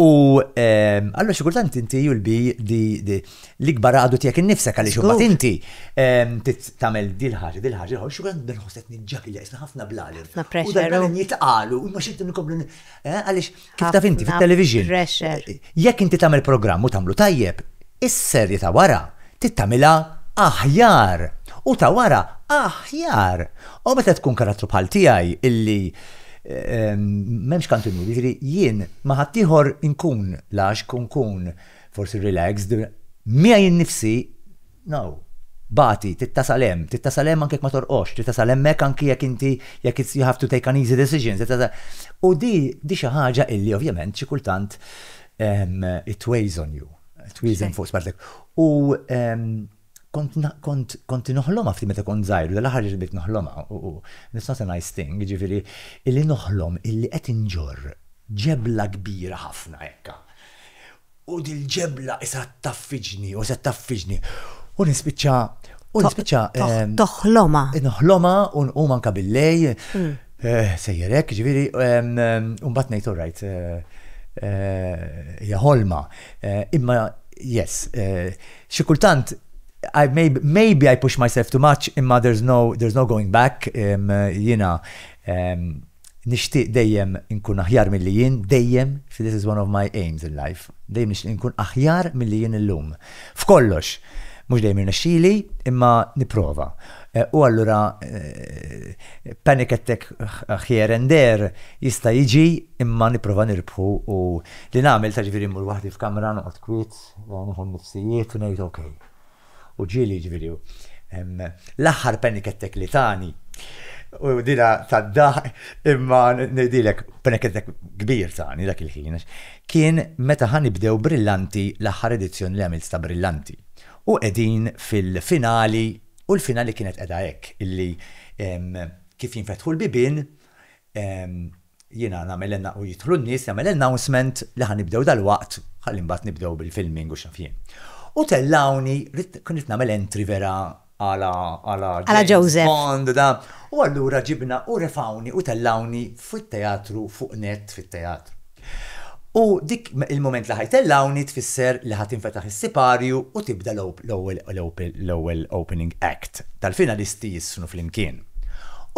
U ehm, allora xi kultant inti jul bi di l-ikbar għadu tiegħek innifsek għaliex imbagħad inti ehm, tagħmel dil ħaġa, dil ħaġa, xi kultant nħosset niġġak li jaqisna ħafna blali. Ħafna pressure. U jitqalu, u ma xinti nkomplu eh, għaliex kif taf inti fit-television. Eh, jekk inti tagħmel programm u tagħmlu tajjeb, Is-serje ta' wara trid tagħmilha aħjar u ta' wara aħjar. U meta tkun karattru bħal tiegħi illi m'hemmx kantinur, jiġifieri jien ma' ħaddieħor inkun laxk u nkun forsi relaxed, miegħi nnifsi, no, bagħti, trid tasal hemm, trid tasal hemm anke jekk ma torqodx, trid tasal hemmhekk anke jekk inti jekk you have to take an easy decision, trid tasal. U din xi ħaġa illi ovvjament xi kultant It weighs on you. Twieżen fuq spalltek. U kont noħlomha ftit meta kont żgħir, l-aħħar li bdiet noħlomha, u it's not a nice thing, jiġifieri illi noħlom illi qed inġorr ġebla kbira ħafna hekk. U dil-ġebla qisha ttaffiġni u se ttaffiġni. U nispiċċa, u nispiċċa. Toħlomha. Noħlomha u nqum anke billejl. Sejjer hekk, jiġifieri, u mbagħad ngħid all right, hija ħolma. Imma yes, xi kultant maybe I push myself too much imma there is no there is no going back, jiena nixtieq dejjem inkun aħjar milli jien, dejjem, this is one of my aims in life, dejjem nixtieq inkun aħjar milli jien illum. F'kollox! Mhux dejjem jirnexxili imma nipprova. U allura panic attack here and there jista' jiġi imma nipprova nirbħu u li nagħmel ta' ġifieri mmur waħdi f'kamra noqgħod kwiet, nieħu n-nifsijiet u ngħid ok. U ġieli ġifieri l-aħħar panic attack li tani u dila tad-daħq imma ngħidilek panic attack kbir tani dak il-ħin għax kien meta ħa nibdew Brillanti l-aħħar edizzjoni li għamilt ta' Brillanti u qegħdin fil-finali U l-finali kienet qiegħda hekk, illi kif jinfetħu l-bibien, jiena nagħmel u jidħlu n-nies, nagħmel announcement li ħa nibdew dalwaqt ħalli mbagħad nibdew bil-filming u x'naf jien. U tellgħuni, kont rid nagħmel entry vera għala għala Għala Joseph. Bond da. U allura ġibna u refgħuni u tellgħuni fit-teatru fuq net fit-teatru. U dik il-mument li ħa jtellgħuni tfisser li ħa tinfetaħ is-siparju u tibda l-ewwel opening act tal-finalisti jissnu flimkien.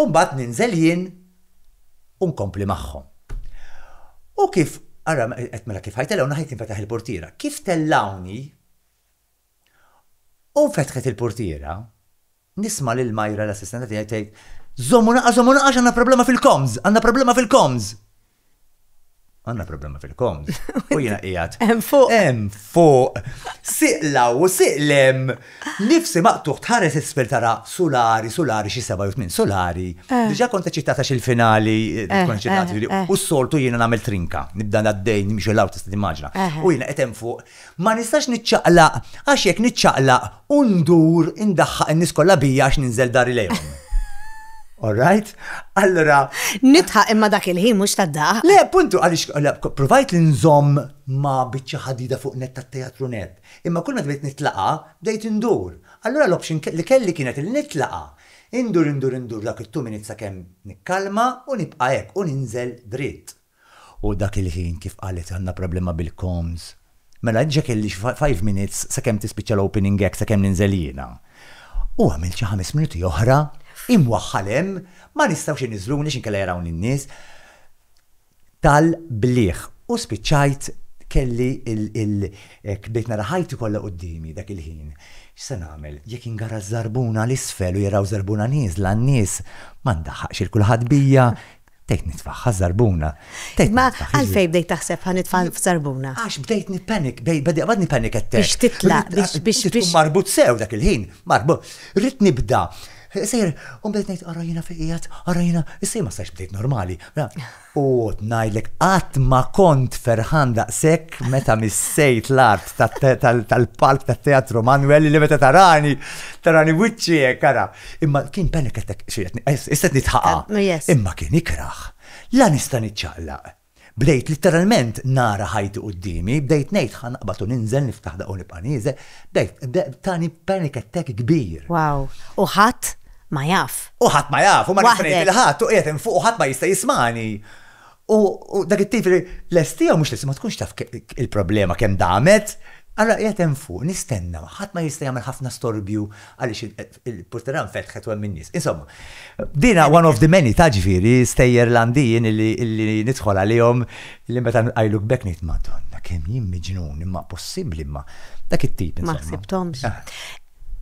U mbagħad ninżel jien u nkompli magħhom. U kif, ara qed mela kif ħa jtellgħuni ħa tinfetaħ il-purtiera. Kif tellgħuni u nfetħet il-purtiera, Nisma' lil Myra l-assistenta tiegħi tgħid, Żomm u naqa' żomm u naqa' għax għandna problema fil-comms! Għandna problema fil-comms! Għandna problema fil-comms. U jiena qiegħed. Hemm fuq. Hemm fuq. Sieq law u sieq lem. Nifsi maqtugħ tħares isfel tara sulari, sulari xi seba' jew tmien sulari. Eh. Diġà kont eċċitat għax il-finali eh, eh, kont eċċitat. U s-soltu jiena nagħmel trinka. Nibda għaddej nimxu law tista' timmaġna. U jiena qed hemm fuq Ma nistax niċċaqlaq għax jekk niċċaqlaq u ndur indaħħaq in-nies kollha bija għax ninżel dari lejhom. All right? Allura. Nitħaq imma dak il-ħin mhux tad-daq. Le, puntu, għaliex provajt li nżomm ma biċċa ħadida fuq net tat-teatru net. Imma kull ma tbejt nitlaqa, bdejt indur. Allura l-option li kelli kienet li nitlaqa. Indur, indur, indur dak it-two minutes sakemm nikkalma u nibqa' hekk u ninżel dritt. U dak il-ħin kif qalet għandna problema bil-comms. Mela diġa kelli xi five minutes sakemm tispiċċa l-opening act sakemm ninżel jiena. U għamilt xi ħames minuti oħra imwaħħal hemm ma nistgħux iniżżluni għax inkella jarawni n-nies tal-bliħ u spiċċajt kelli il hekk bdejt nara ħajti kollha quddiemi dak il-ħin. X'se nagħmel? Jekk ingara ż-żarbuna 'l isfel u jaraw żarbuna nieżla n-nies ma ndaħħaqx 'il kulħadd bija. Bdejt nitfa' ħaż-żarbuna. Ma għalfejn bdejt taħseb ħa nitfa' f'żarbuna? Għax bdejt nippanik, bad nippanik attak. Biex titlaq, biex biex. Tkun marbut sew dak il-ħin, marbut. Rrid nibda. Sejjer, u bdejt ngħid ara jiena fejn qiegħed, ara jiena, issa jien ma stajtx bdejt normali. U qgħod ngħidlek qatt ma kont ferħan daqshekk meta missejt l-art tal-palk tat-Teatru Manwel li meta tarani, tarani wiċċi hekk ara. Imma kien panic attack, issa qed nitħaqa. Eh, Imma kien ikraħ. La nista' niċċaqlaq. Bdejt litteralment nara ħajti quddiemi, bdejt ngħid ħa naqbad u ninżel niftaħ daqqa u nibqa' nieżel, bdejt tani panic attack kbir. Wow, u ħadd ma jaf. U ħadd ma jaf, u ma nista' ngħid lil ħadd u qiegħed hemm fuq u ħadd ma jista' jismagħni. U dak it-tifel lest jew mhux lest ma tkunx taf il-problema kemm damet, allura qiegħed hemm fuq, nistenna, ħadd ma jista' jagħmel ħafna storbju għaliex il-portiera nfetħet u hemm in-nies. Insomma, din one of the many ta' ġifieri stejjer Landin illi nidħol għalihom li meta nqajluk b'hekk ngħid Madonna kemm jien miġnun imma possibbli imma dak it-tip. Ma ħsibthomx. Ah.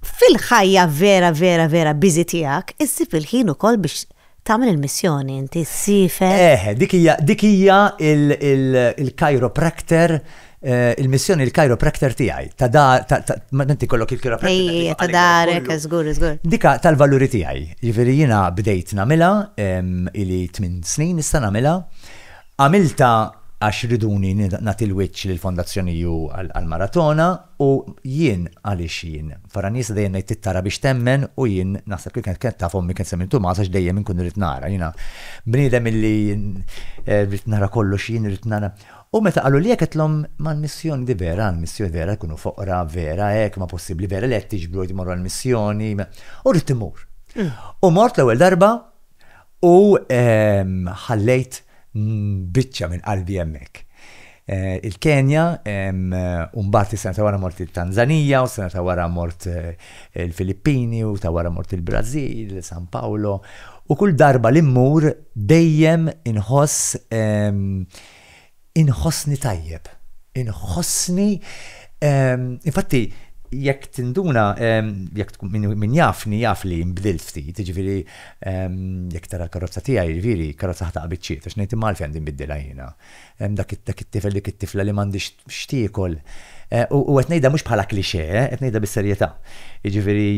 Fil-ħajja vera vera vera biżi tiegħek, issib il-ħin ukoll biex Tagħmel il-missjoni inti, ssiefer. Eħe, dik hija, dik hija il-chiropractor, il-missjoni l-chiropractor tiegħi. Ta' da, ta', ta', ma' inti kollok il-chiropractor. Ejji, ejji, ta' darek, żgur, żgur. Dika tal-valuri tiegħi. Jiġifieri jiena bdejt nagħmilha, ili tmien snin issa nagħmilha. Għamiltha għax riduni nagħti l-wiċċ lill-Fondazzjoni U għall-maratona u jien għaliex jien. Faranisa dejjem ngħid trid tara biex temmen u jien naħseb li kienet kienet taf ommi kienet semmi l-Tumas għax dejjem inkun irrid nara. Jiena bniedem illi rrid nara kollox jien irrid nara. U meta qaluli hekk għedtlhom ma l-missjoni di vera għall-missjoni vera jkunu foqra vera hekk ma possibbli vera li qed tiġbru qed immorru għall-missjoni u rrid immur. U mort l-ewwel darba U ħallejt biċċa minn qalbi hemmhekk. Il-Kenja, u mbagħad is-sena ta' wara mort it-Tanżanija, u s-sena ta' wara mort il-Filippini, u ta' wara mort il-Brażil, San Pawlo. U kull darba li mmur dejjem inħoss Inħossni tajjeb. Inħossni, infatti, jekk tinduna, jekk min jafni jaf li nbdilt ftit, jiġifieri jekk tara l-karozza tiegħi, jiġifieri karozza ħataqgħa biċċiet għax ngħid imma għalfejn għandi nbiddilha jiena. Dak it-tifel, dik it-tifla li m'għandhiex x'tiekol. U qed ngħidha mhux bħala cliché, qed ngħidha bis-serjetà. Jiġifieri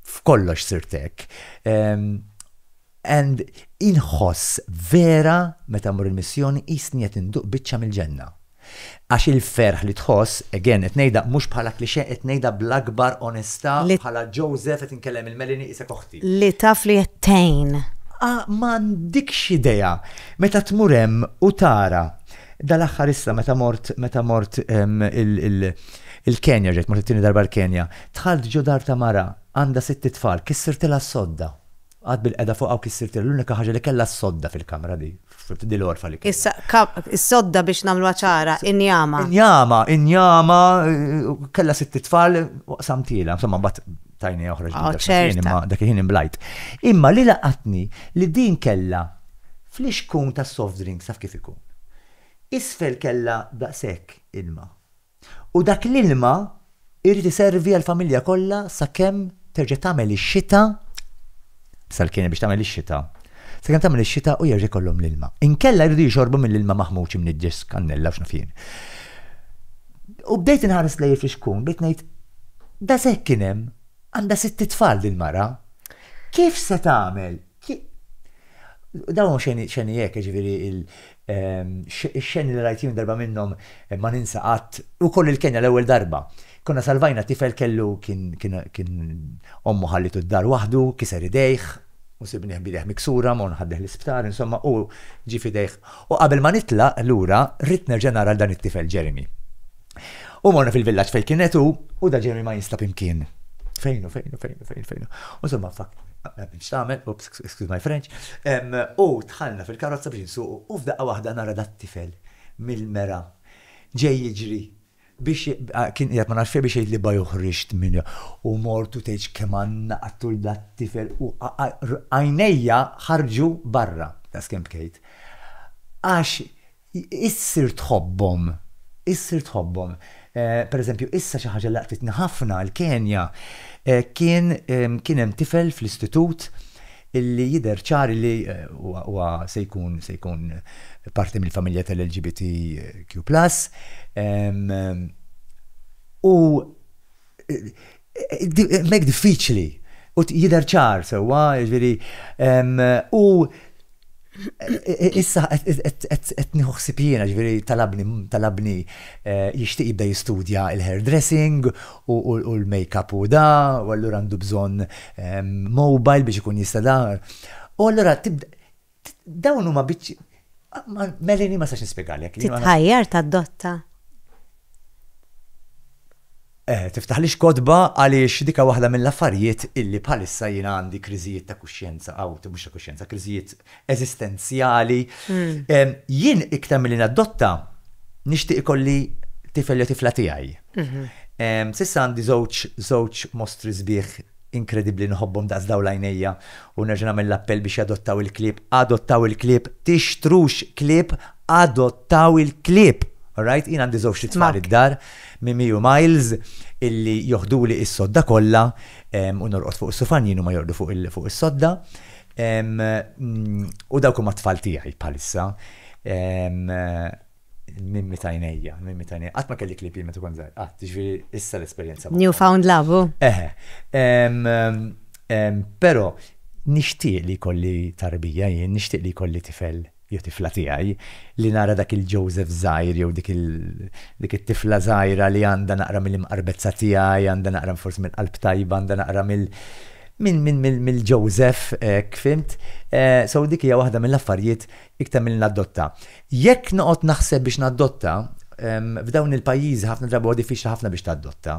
f'kollox sirt hekk. And inħoss vera meta mmur il-missjoni qisni qed induq biċċa mill-ġenna. Għax il-ferħ li tħoss, again qed ngħidha mhux bħala cliché qed ngħidha bl-akbar onestà Li. bħala Joseph qed inkellem lil Melanie qisek oħti. Li taf li qed tgħin. Ah m'għandikx idea! Meta tmur hemm u tara. Dal-aħħar issa meta mort meta mort il-Kenja, rġajt mort it-tieni darba l-Kenja, dħalt ġo dar ta' mara għandha sitt itfal, kissirtilha s-sodda. Qagħadt bilqiegħda fuqha u kissirtilha l-unika ħaġa li kellha s-sodda fil-kamra di, di l-għorfa li kellha. Issa, is-sodda biex nagħmluha ċara, injama. Injama, injama, kellha sitt itfal u qsamtilha, insomma mbagħad tajni oħra ġdida. Oh, ċerta. Imma dak il-ħin imblajt. Imma li laqatni li din kellha flixkun ta' soft drinks taf kif ikun. Isfel kellha daqshekk ilma. U dak l-ilma jrid iservi għall-familja kollha sakemm terġa' tagħmel ix-xita, sal-kien biex tagħmel ix-xita, sakemm tagħmel ix-xita u jerġa' jkollhom l-ilma. Inkella jridu jixorbu mill-ilma maħmuġ imniġġes, kannella u x'naf jien. U bdejt inħares lejn il-fixkun, bdejt ngħid, Daqshekk kien hemm, għandha sitt itfal din mara. Kif se tagħmel Ki. Dawn huma xeni, xeni hekk, jiġifieri il, ehm, ix-xeni li rajt jien darba minnhom ma ninsa qatt, ukoll il-Kenja l-ewwel darba. Konna salvajna tifel kellu, kien, kien, kien ommu ħallitu d-dar waħdu, kiser idejh, u sibnieh b'idejh miksura, Mona ħaddieh l-isptar, insomma, hu ġie f'idejh. U qabel ma nitlaq lura, ridt nerġa' nara lil dan it-tifel Jeremy. U morna fil-villaġġ fejn kienet u da Jeremy ma jinstab imkien. Fejnu, fejnu, fejnu, fejnu, fejnu. U somma fak, biex tagħmel, ups, excuse my French, u tħallna fil-karozza biex nsuqu u f'daqqa waħda nara dat tifel mill-mera ġej jiġri biex kien qiegħed ma nafx biex jgħidli baj uħriġt minn u mortu tgħidx kemm għandna qattul dat tifel u għajnejja ħarġu barra ta' skemm bkejt. Għax Issir tħobbhom. Issir tħobbhom. Pereżempju, issa xi ħaġa li laqtitni ħafna, il-Kenja. Kien kien hemm tifel fl-istitut illi jidher ċar illi huwa se jkun se jkun parti mill-familja tal-LGBTQ plus u Hemmhekk diffiċli u jidher ċar sewwa, jiġifieri u issa qed nieħu ħsieb jiena, jiġifieri talabni talabni eh, jixtieq jibda jistudja l-hairdressing u l-makeup u da, u allura għandu bżonn mobile biex ikun jista' da. U allura Dawn huma biċċi. Melini ma sax nispjegalek. Titħajjar ta' dotta. Eh, tiftaħ li xkodba għaliex dika waħda mill-affarijiet illi bħalissa jina għandi kriżijiet ta' kuxjenza, għaw, mux ta' kuxjenza, kriżijiet eżistenzjali. Hmm. Jien iktar mill-li naddotta, nishtiq ikolli tifel jew tifla tiegħi. Mhm. Sissa għandi żewġ żewġ mostri sbieħ Inkredibbli nħobbhom daqs dawl għajnejja u nerġa' nagħmel l-appell biex jadottaw il-klieb, adottaw il-klieb, tixtrux klieb, adottaw il-klieb! Alright? Jien għandi żewġt itfal id-dar, Mimi u Miles, illi joħduli is-sodda kollha u norqod fuq is-sufan jien huma jorqdu fuq is-sodda u dawk huma t-tfal tiegħi bħalissa. Il-mimmi ta' għinejja, il-mimmi ta' għinejja. Qatt ma kelli klieb jien meta kont żgħir, qatt, jiġifieri issa l-esperjenza b'hom. New found love hu? Eħe. Però nixtieq li jkolli tarbija jien, nixtieq li jkolli tifel jew tifla tiegħi, li nara dak il-Joseph żgħir jew dik il, dik it-tifla żgħira li għandha naqra mill-imqarbezza tiegħi, għandha naqra forsi mill-qalb tajba, għandha naqra mill, mill, mill, mill-Joseph, hekk, fhimt? So dik hija waħda mill-affarijiet iktar milli naddotta. Jekk noqgħod naħseb biex naddotta, f'dawn il-pajjiżi ħafna drabi huwa diffiċli ħafna biex taddotta.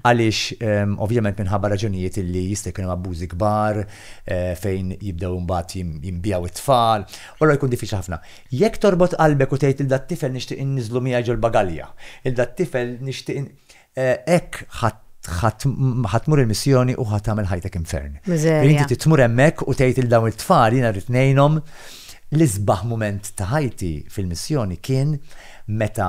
Għaliex ovvjament minħabba raġunijiet li jista' jkun hemm abbużi kbar eh, fejn jibdew imbagħad jinbijaw it-tfal, u allura jkun diffiċli ħafna. Jekk torbot qalbek u tgħid il dat-tifel nixtieq inniżlu miegħi ġol-bagalja, il dat-tifel nixtieq Hekk ħa tmur il-missjoni u ħa tagħmel ħajtek infern. Inti tmur hemmhekk u tgħid lil dawn it-tfal jiena rrid ngħinhom. L-isbaħ mument ta' ħajti fil-missjoni kien meta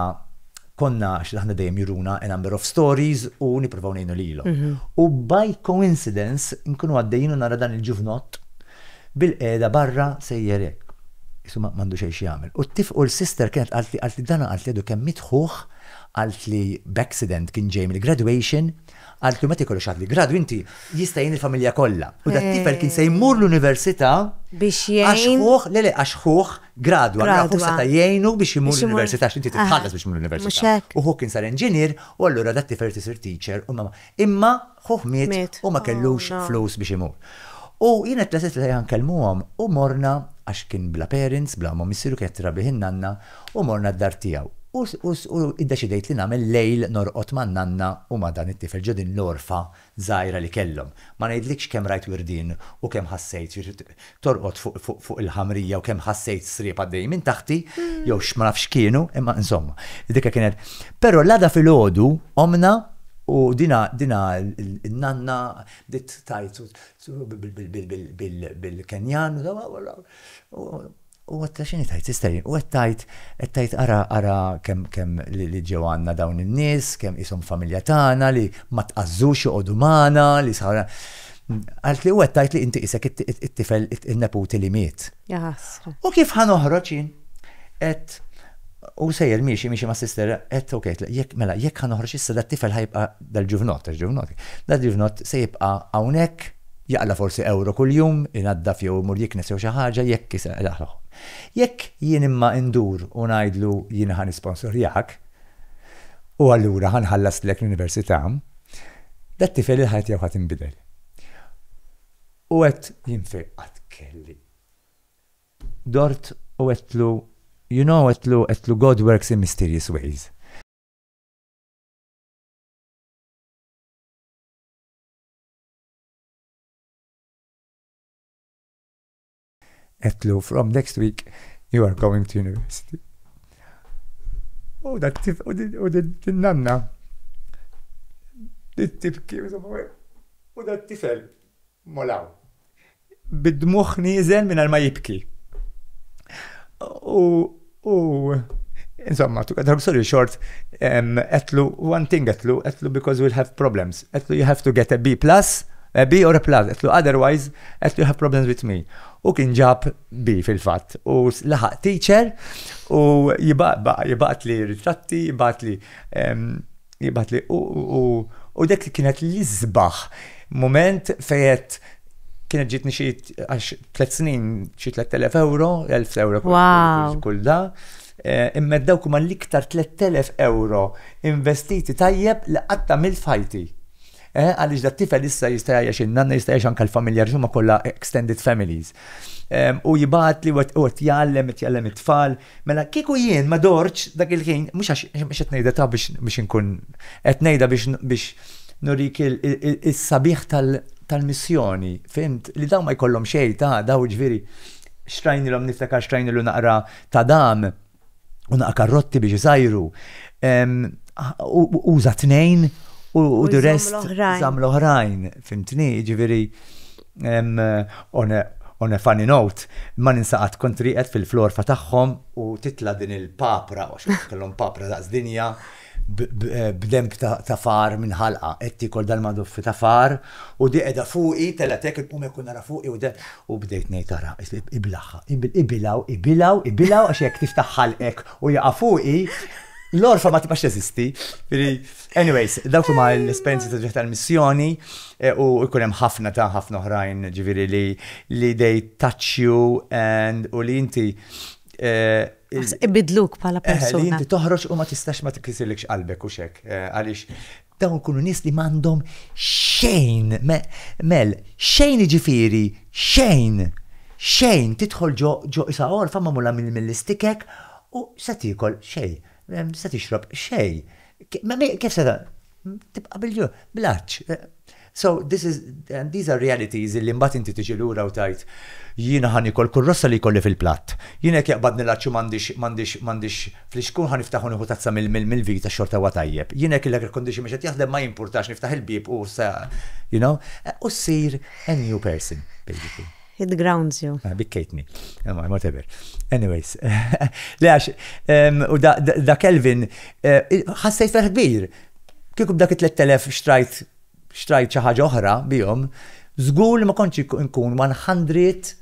konna għax aħna dejjem juruna a number of stories u nippruvaw ngħinu lilhom. U by coincidence nkunu għaddejjin u nara dan il-ġuvnott bilqiegħda barra sejjer hekk. Qisu m'għandu xejn x'jagħmel. U t-tifl u l-sister kienet qaltli, qaltli dan qaltli għadu kemm miet ħuh, Qalt li b'accident kien ġej mill-graduation, qaltlu meta jkollok xi ħadd li gradu inti jista' jgħin il-familja kollha. U dat-tifel kien se jmur l-università għax ħuh, le le, għax ħuh gradwa. Allura ħuh seta' jgħinu biex imur l-università għax inti trid tħallas biex tmur l-università. U ħuh kien sar enġinier u allura dat-tifel irid isir teacher u ma. Imma Ħuh miet u ma kellux flus biex imur. U jiena tlasit lejha nkellmuhom u morna, għax kien bla parents, bla omm u missieru kienet tirrabbih in-nanna, u morna d-dar tiegħu. U u iddeċidejt li nagħmel lejl norqod man-nanna u ma' dan it-tifel ġo din l-għorfa żgħira li kellhom. Ma ngħidlikx kemm rajt wirdien u kemm ħassejt torqod fuq il-ħamrija u kemm ħassejt sriep għaddejjin minn taħti, jew x'ma nafx x'kienu, imma insomma, dik kienet. Però l-għada filgħodu qomna u dina n-nanna bdiet tgħid bil-Kenjan u għedtilha x'inhi tgħid sister u qed tgħid qed tgħid ara ara kemm li ġew għandna dawn in-nies, kemm qishom familja tagħna li ma tqażżux joqogħdu magħna li Għalt li u għettajt li inti isek it-tifel il-neputi li miet. U kif ħan oħroċin? Et u sejjer miexi miexi ma' sister, et ok, jek mela, jek ħan oħroċ issa da' tifel ħajbqa dal-ġuvnot, ġuvnot, dal-ġuvnot se jibqa għawnek, jaqla forsi euro kull-jum, inadda fjew mur jiknes jew xaħġa, jek kisa, laħlaħ. Jek jien imma indur u najdlu jien ħan sponsorjak, u allura ħa nħallastlek l-università, dat-tifel il-ħajja tiegħu ħa tinbidel. U qed jinfiq qatt kelli. Dort u għedtlu, you know għedtlu, għedtlu God works in mysterious ways. Għedtlu from next week you are going to university. U da tif u din nanna. Tibki u da tifel molaw. Bid-dmuħ nizel minn ma jibki. U U insomma, took a drug story short, għetlu one thing għetlu, għetlu because we'll have problems. Għetlu you have to get a B plus, a B or a plus, għetlu otherwise, għetlu you have problems with me. U kien ġab B fil-fat. U laħaq teacher u jibaqat li ritratti, jibaqat li Jibgħat li u dik li kienet l-isbaħ moment fejet kienet ġitni xi għax tliet snin xi 3000 euro, 1000 euro kull da. Eh, imma dawk huma l-iktar 3000 euro investiti tajjeb li qatt mill fajti. Eh, għaliex da tifel issa jista' jgħix in-nanna jista' jgħix anke l-familja ġumma kollha extended families. U jibgħat li u jgħallem, jgħallem it-tfal, Mela kieku jien ma dortx dak il-ħin, mhux għax mhux qed ngħidha taf biex inkun, qed ngħidha biex nurik is-sabiħ tal-missjoni, fhimt? Li dawn ma jkollhom xejn ta' għada, jiġifieri xtrajnilhom niftakar xtrajnilu naqra tadam u naqra karrotti biex isajru. Uża tnejn u the rest żamm l-oħrajn, fhimtni? Jiġifieri. On a funny note, ma ninsa qatt kont rieqed fil-florfa tagħhom u titla' din il-papra, għax kellhom papra daqs dinja, b'denb ta' far minn ħalqha. Qed tiekol dal-maduffi ta' far u di qiegħda fuqi, telgħet hekk, inqum hekk u nara fuqi u deh, u bdejt ngħid ara, ibilgħha, ibilgħu, ibilgħu, ibilgħu għax jekk tiftaħ ħalqek u jaqa' fuqi, l-orfa ma tibqax teżisti. Anyways, dawk huma l-esperjenzi ta' dritt tal-missjoni u jkun hemm ħafna ta' ħafna oħrajn ġifieri li li they touch you and u li inti Ibiddluk bħala persuna. Li inti toħroġ u ma tistax ma tikkisirlikx qalbek u x'hekk għaliex dawn ikunu nies li m'għandhom xejn mel xejn jiġifieri xejn xejn tidħol ġo ġo isa' għorfa magħmula mill-istikek u x'se tiekol xejn Se tixrob xejn. Kif se tibqa' bil-ġuħ? Bl-għatx. So, this is, and these are realities illi mbagħad inti tiġi lura u tgħid, jiena ħa niekol kull rossa li jkolli fil-platt. Jiena jekk jaqbadni l-għatx u m'għandix, m'għandix, m'għandix fl-ixkun ħa niftaħ u nieħu tazza mill-vita x-xorta huwa tajjeb. Jiena jekk il-air condition mhux qed jaħdem ma jimpurtax niftaħ il-bieb u se, you know, u ssir a new person, basically. It grounds you. Ah, bikkejtni. Emma, eh, whatever. Anyways. Le għax, u da Kelvin, eh, ħassajt ferħ kbir. Kieku b'dak 3000 xtrajt xtrajt xi ħaġa oħra bihom, żgur li ma kontx nkun 100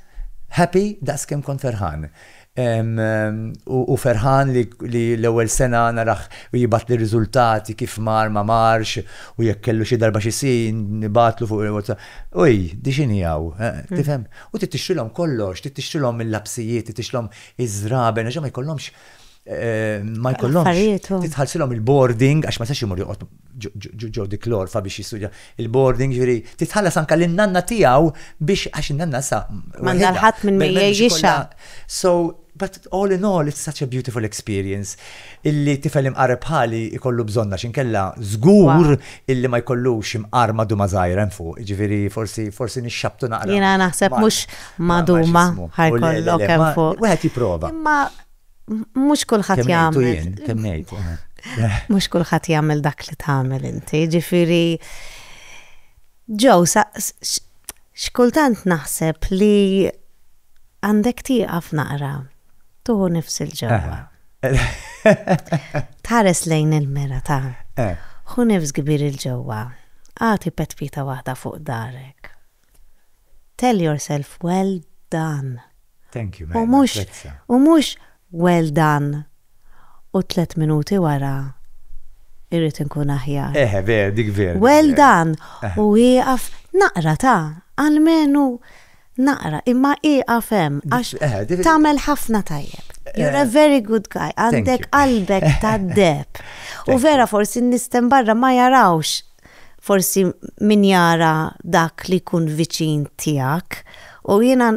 happy daqs kemm kont ferħan. U ferħan li l-ewwel sena narah jibgħatli r-riżultati kif mar ma marx u jekk kellu xi darba xi sign nibgħatlu fuq il-WhatsApp. Uj, di x'inhi hawn? Tifhem? U trid tixtrilhom kollox, trid tixtrilhom il-lapsijiet, trid tixtrilhom iż-żraben għax ma jkollhomx, ma jkollhomx, trid tħallsilhom il-boarding għax ma jistax imur joqgħod ġo dik l-orfa biex jistudja il-boarding, ġifieri titħallas anke lin-nanna tiegħu biex għax in-nanna sa. M'għandha l-ħadd minn min jgħixha. So, but all in all, it's such a beautiful experience illi tifel imqar bħali jkollu bżonn għax inkella żgur illi ma jkollux imqar maduma żgħira hemm fuq, ġifieri forsi forsi nixxabtu naqra. Jiena naħseb mhux maduma ħajkollok hemm fuq. Wieħed jipprova. mhux kulħadd jagħmel. Kemm ngħid. Eh. Mhux kulħadd jagħmel dak li tagħmel inti, ġifieri ġew x'kultant naħseb li għandek tieqaf naqra tuħu nifs il-ġewwa. Eh. Tħares lejn il-mera ta' eh. hu nifs kbir il-ġewwa. Għati petpita waħda fuq darek. Tell yourself well done. Thank you man, napprezza. U mhux well done u tliet minuti wara irrid inkun aħjar. Eħe vera, dik vera. Well done u ieqaf naqra ta, almenu naqra, imma ieqaf hemm għax tagħmel ħafna tajjeb. You're a very good guy, għandek qalbek tad-deheb. U vera forsi n-nies t'hemm barra ma jarawx Forsi min jara dak li jkun viċin tiegħek. U jiena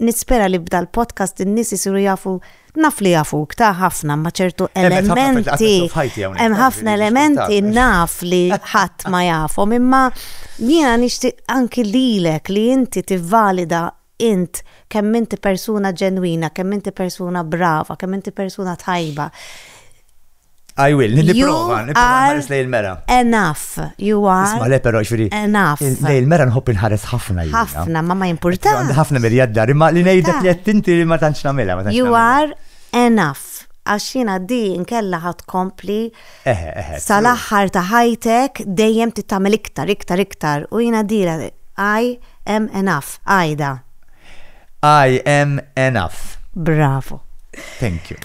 nispera li b'dal podcast in-nies isiru jafu naf li jafuk ta' ħafna ma' ċertu elementi. Hemm ħafna elementi naf li ħadd ma jafhom imma jiena nixtieq anki lilek li inti tivvalida int kemm inti persuna ġenwina, kemm inti persuna brava, kemm inti persuna tajba. I will, niprofa, niprofa lej il-mera. Enough, you are. Isma le pero xuri. Enough. Lej il-mera nħobb inħares ħafna. Ħafna, ma ma jimporta. Ħafna mirjad dar, ma li nejdek li għattinti li ma tanċna mela. You are enough. Għaxina di nkella ħat kompli Eħe, eħe. Sal-aħħar ta' ħajtek dejjem trid tagħmel iktar, iktar, iktar u jiena dira I am enough, għajda. I am enough. Bravo. Thank you.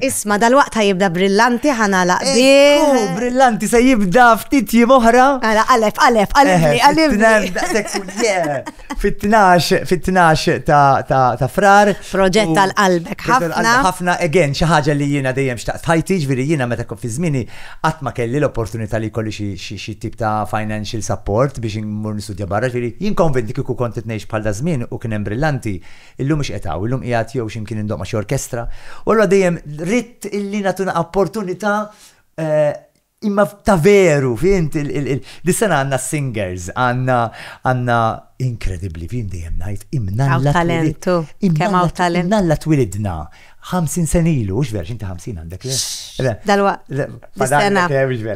Isma, dal-waqt jibda brillanti ħana laqbi. Oh, brillanti se jibda ftit jim oħra. Għala, għalef, għalef, għalef, għalef. Fit-12 fit-12 ta', ta, ta frar. Proġett tal-qalbek ħafna. Ħafna again xi ħaġa li jiena dejjem xtaqt ħajti, ġifieri jiena meta kont fi żmieni qatt ma kelli l-opportunità li jkolli xi tip ta' financial support biex immur nistudja barra, ġifieri jien konvinti kieku kont qed ngħix bħal da żmien u kien hemm brillanti, illum mhux qed hawn, illum qiegħed jew x'imkien indoqma xi orkestra. U allura dejjem ridt illi nagħtuna opportunità eh, Imma ta' veru, fint, dis-sena għandna singers, għandna għandna inkredibbli, fint dejjem ngħid, imnalla. Talentu, kemm hawn talent. Imnalla twilidna 50 senilu, u x'ver, x'inti 50 għandek le? Dalwa. Dis-sena.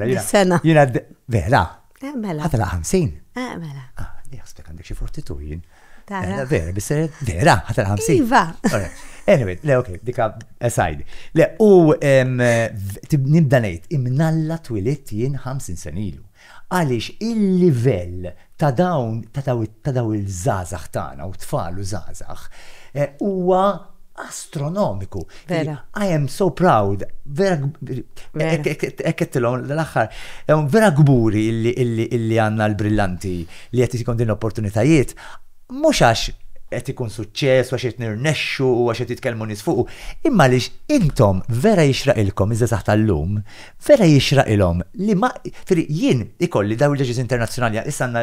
Dis-sena. Jiena vera. Eh, mela. Ħadra 50. Eh, mela. Ah, jaħsbek għandek xi fortitu jien. Tara. Vera, biss vera, ħadra 50. Iva. Anyway, le, ok, dika aside. Le, u nibda ngħid, imnalla twilit jien 50 senilu. Għaliex il-livell ta' dawn ta' daw il-żazax tagħna u tfal u żazax eh, huwa astronomiku. Vera. I am so proud. Vera. Ekketilon l-axar. Vera gburi illi għanna l-brillanti li għet jikon din opportunitajiet. Mux għax għet ikun suċċess, għax għet nirnexxu, għax għet jitkelmu nisfuqu. Imma li intom vera jixraqilkom iżda taħt l-lum, vera jixraqilom li ma, jien ikolli daw il-ġeġiz internazjonali, issa għanna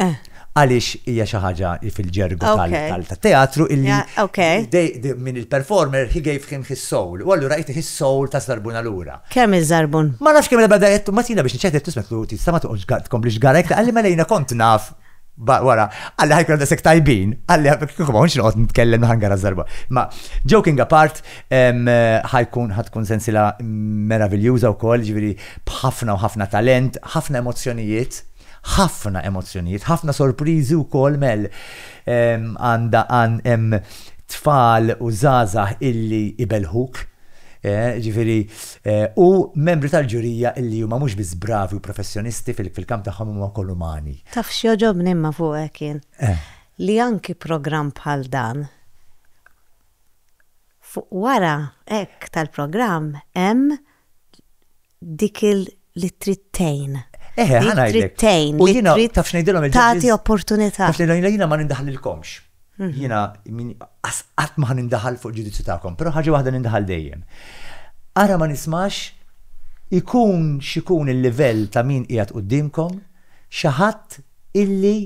Eh. Għaliex hija xi ħaġa li fil-ġergu tal-teatru illi minn il-performer he gave him his soul. U allura jti his soul ta' zarbun allura. Kemm iż-żarbun? Ma nafx kemm il-bada jettu ma tina biex nċetet tismet lu tista' ma toqgħodx tkompli xgarek ta' għalli ma lejna kont naf wara, għalli ħajkun għadda sek tajbin, għalli kieku ma unx noqgħod nitkellem ħangar għazzarba. Ma joking apart, ħajkun ħatkun sensila meraviljuża wkoll, ġifieri b'ħafna u ħafna talent, ħafna emozzjonijiet. Ħafna emozzjonijiet, ħafna sorpriżi wkoll mel għandha hemm tfal u żgħażagħ illi ibelħuk. Eh, ġifiri, eh, u membri tal-ġurija illi huma mhux biss bravi u professjonisti fil-kamp tagħhom huma wkoll umani. Taf x'joġobni imma fuqek kien eh. li anki programm bħal dan fuq wara hekk tal-programm hemm dik li trid tgħin. Eħe, ħa ngħidlek. U jiena taf x'ngħidilhom il-ġudges. Tagħti opportunità. Taf ngħidilhom jiena ma nindaħlilkomx. Jiena qatt ma nindaħal fuq ġudizzju tagħkom, però ħaġa waħda nindaħal dejjem. Ara ma nismax ikun x'ikun il-livell ta' min qiegħed quddiemkom, xi ħadd illi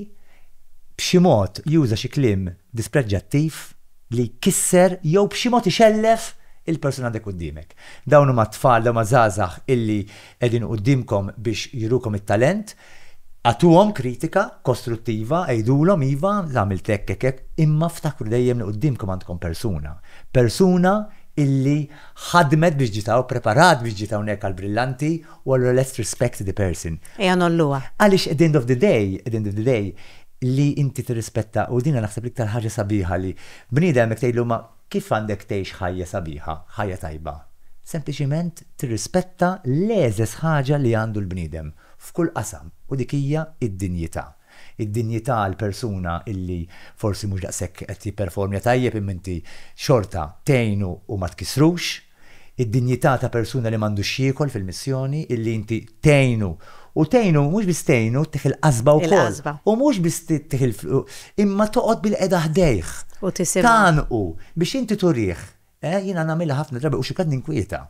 b'xi mod juża xi kliem dispreġġattiv li jkisser jew b'xi mod ixellef il-persuna għandek quddiemek. Dawn huma t-tfal, dawn huma żgħażagħ illi qegħdin quddiemkom biex jurukom it-talent. Agħtuhom kritika kostruttiva, għidulhom, iva, għamilt hekk, hekk, hekk, imma ftakru dejjem li quddiemkom għandkom persuna. Persuna illi ħadmet biex ġiet hawn, preparat biex ġiet hawnhekk għall-Brillanti u allura let's respect the person. Ejja ngħolluha. Għaliex at the end of the day, at the end of the day, li inti tirrispetta, u din naħseb l-iktar ħaġa sabiħa li bniedem jekk tgħidlu ma Kif għandek tgħix ħajja sabiħa, ħajja tajba? Sempliċiment tirrispetta l-għeżeż ħaġa li għandu l-bniedem, f'kull qasam, u dik hija d-dinjità. Id-dinjità għal persuna illi forsi mhux daqshekk qed jipperformja tajjeb imma inti xorta tgħinu u ma tkissrux. id-dinjità ta' persuna li m'għandux x'jiekol fil-missjoni, illi inti tgħinu, u tgħinu, mhux biss tgħinu, ttiħħ il-qasba wkoll. Il-qasba. U mhux biss ttiħħ il-, imma toqgħod bilqiegħda ħdejh. U tisimgħu. Tgħannqu, biex inti turih. Eh, jiena nagħmilha ħafna drabi u xi kultant ninkwieta.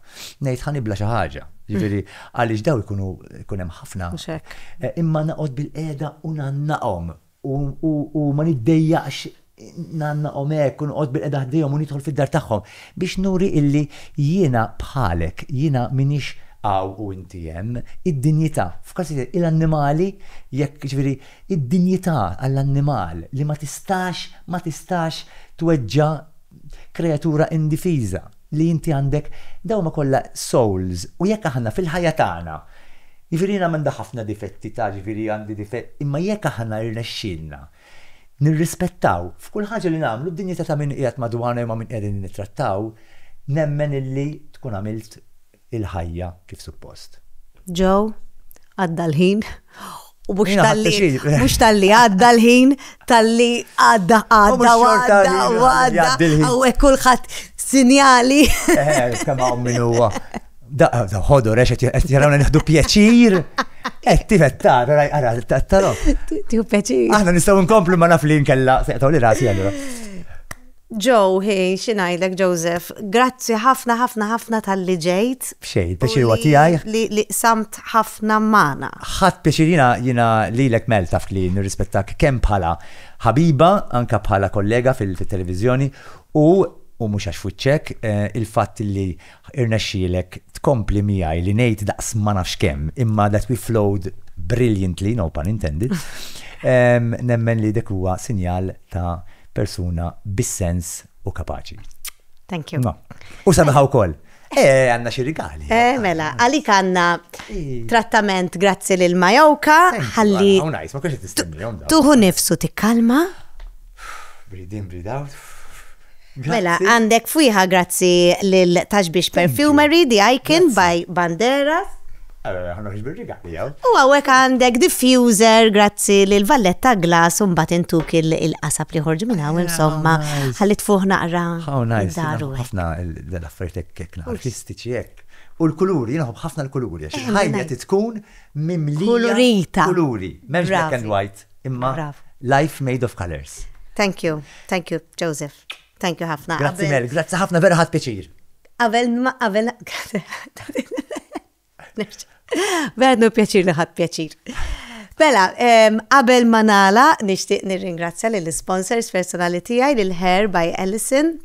Ngħid ħa nibla' xi ħaġa. Jiġifieri, għaliex dawn ikunu, ikun hemm ħafna. Mhux hekk. Imma noqgħod bilqiegħda u ngħannaqhom. u ma niddejjaqx ngħannaqhom hekk u noqgħod bilqiegħda ħdejhom u nidħol fid-dar tagħhom, biex nuri illi jiena bħalek, jiena m'iniex hawn u inti hemm, id-dinjità, f'każijiet il-annimali jekk, jiġifieri, id-dinjità għall-annimal li ma tistax, ma tistax tweġġa', kreatura indifiża li inti għandek dawn huma kollha souls u jekk aħna fil-ħajja tagħna jiġifieri jiena m'għandi ħafna difetti ta' jiġifieri għandi difett imma jekk aħna jirnexxielna nirrispettaw f'kull ħaġa li nagħmlu d-dinjità ta' min qiegħed madwarna jew ma' min qegħdin nittrattaw nemmen illi tkun għamilt il-ħajja kif suppost. Joe, għadda l-ħin, u mhux talli mhux talli għadda l-ħin, talli għadda għadda għadda għadda għawek kulħadd sinjali. Eh, kemm hawn min huwa. Ħodur, għax qed jarawna nieħdu pjaċir. Qed tifettar, ara, tarom. Tiju pjaċir. Aħna nistgħu nkomplu ma naf li nkella, seqtaw li rasi allura. Joe, hi, xi ngħidlek Joseph, grazzi ħafna ħafna ħafna talli ġejt. B'xejn, il-pjaċir huwa tiegħi. U li li qsamt ħafna magħna. Ħadt pjaċir jiena jiena lilek Mel taf li nirrispettak kemm bħala ħabiba anke bħala kollega fit-televiżjoni u u mhux għax f'wiċċek il-fatt li Irnexxielek tkompli miegħi li ngħid daqs ma nafx kemm, imma that we flowed brilliantly, no pun intended. Nemmen li dik huwa sinjal ta' persuna bis-sens u kapaċi. Thank you. U sabiħa wkoll. Eh, għanna xi rigali. Eh, mela, għalik għanna trattament grazzi lil Majoka, ħalli. Tuħu nifsu tikkalma. Breathe in, breathe out. Mela, għandek fwiħa grazzi lil Taxbix Perfumery, The Icon by Banderas. Allora, għanna ħiġbir rigali għaw. U għawek għandek diffuser, grazzi li l-valletta glas un bat intuk il-qasab li ħorġu minn għaw, insomma, għalli tfuħ naqra. Għaw, najs, ħafna l-affaritek kekna, artistiċi jek. U l-kuluri, jinaħu ħafna l-kuluri, għax ħajja titkun mimlija. Kulurita. Kuluri, memx black and white. Imma life made of colors. Thank you, thank you, Joseph. Thank you ħafna. Grazzi Mel, grazzi ħafna vera ħadd piċir. Qabel ma qabel. Vera nu pjaċir li ħadd pjaċir. Bella, mela, qabel ma nala nixtieq nirringrazzja lill sponsors personali tiegħi lil Hair by Ellison,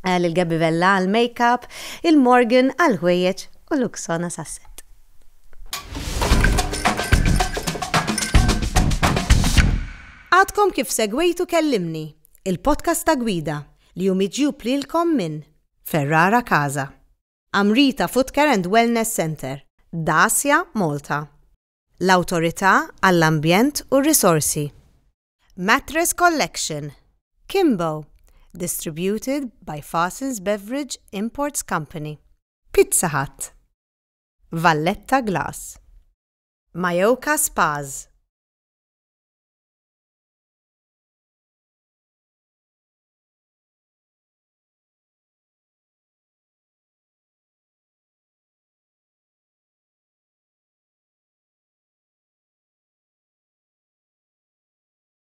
eh, lil Gabivella għal makeup, il-Morgan għal ħwejjeġ u Luxona Sasset. Għadkom kif segwejtu Kellimni, il-podcast ta' gwida li hu miġjub lilkom minn Ferrara Casa, Amrita Footcare and Wellness Centre, Dacia Malta, l-Awtorità għall-Ambjent u r-Risorsi, Mattress Collection, Kimbo, distributed by Fasens Beverage Imports Company, Pizza Hut. Valletta Glass. Majorca Spas.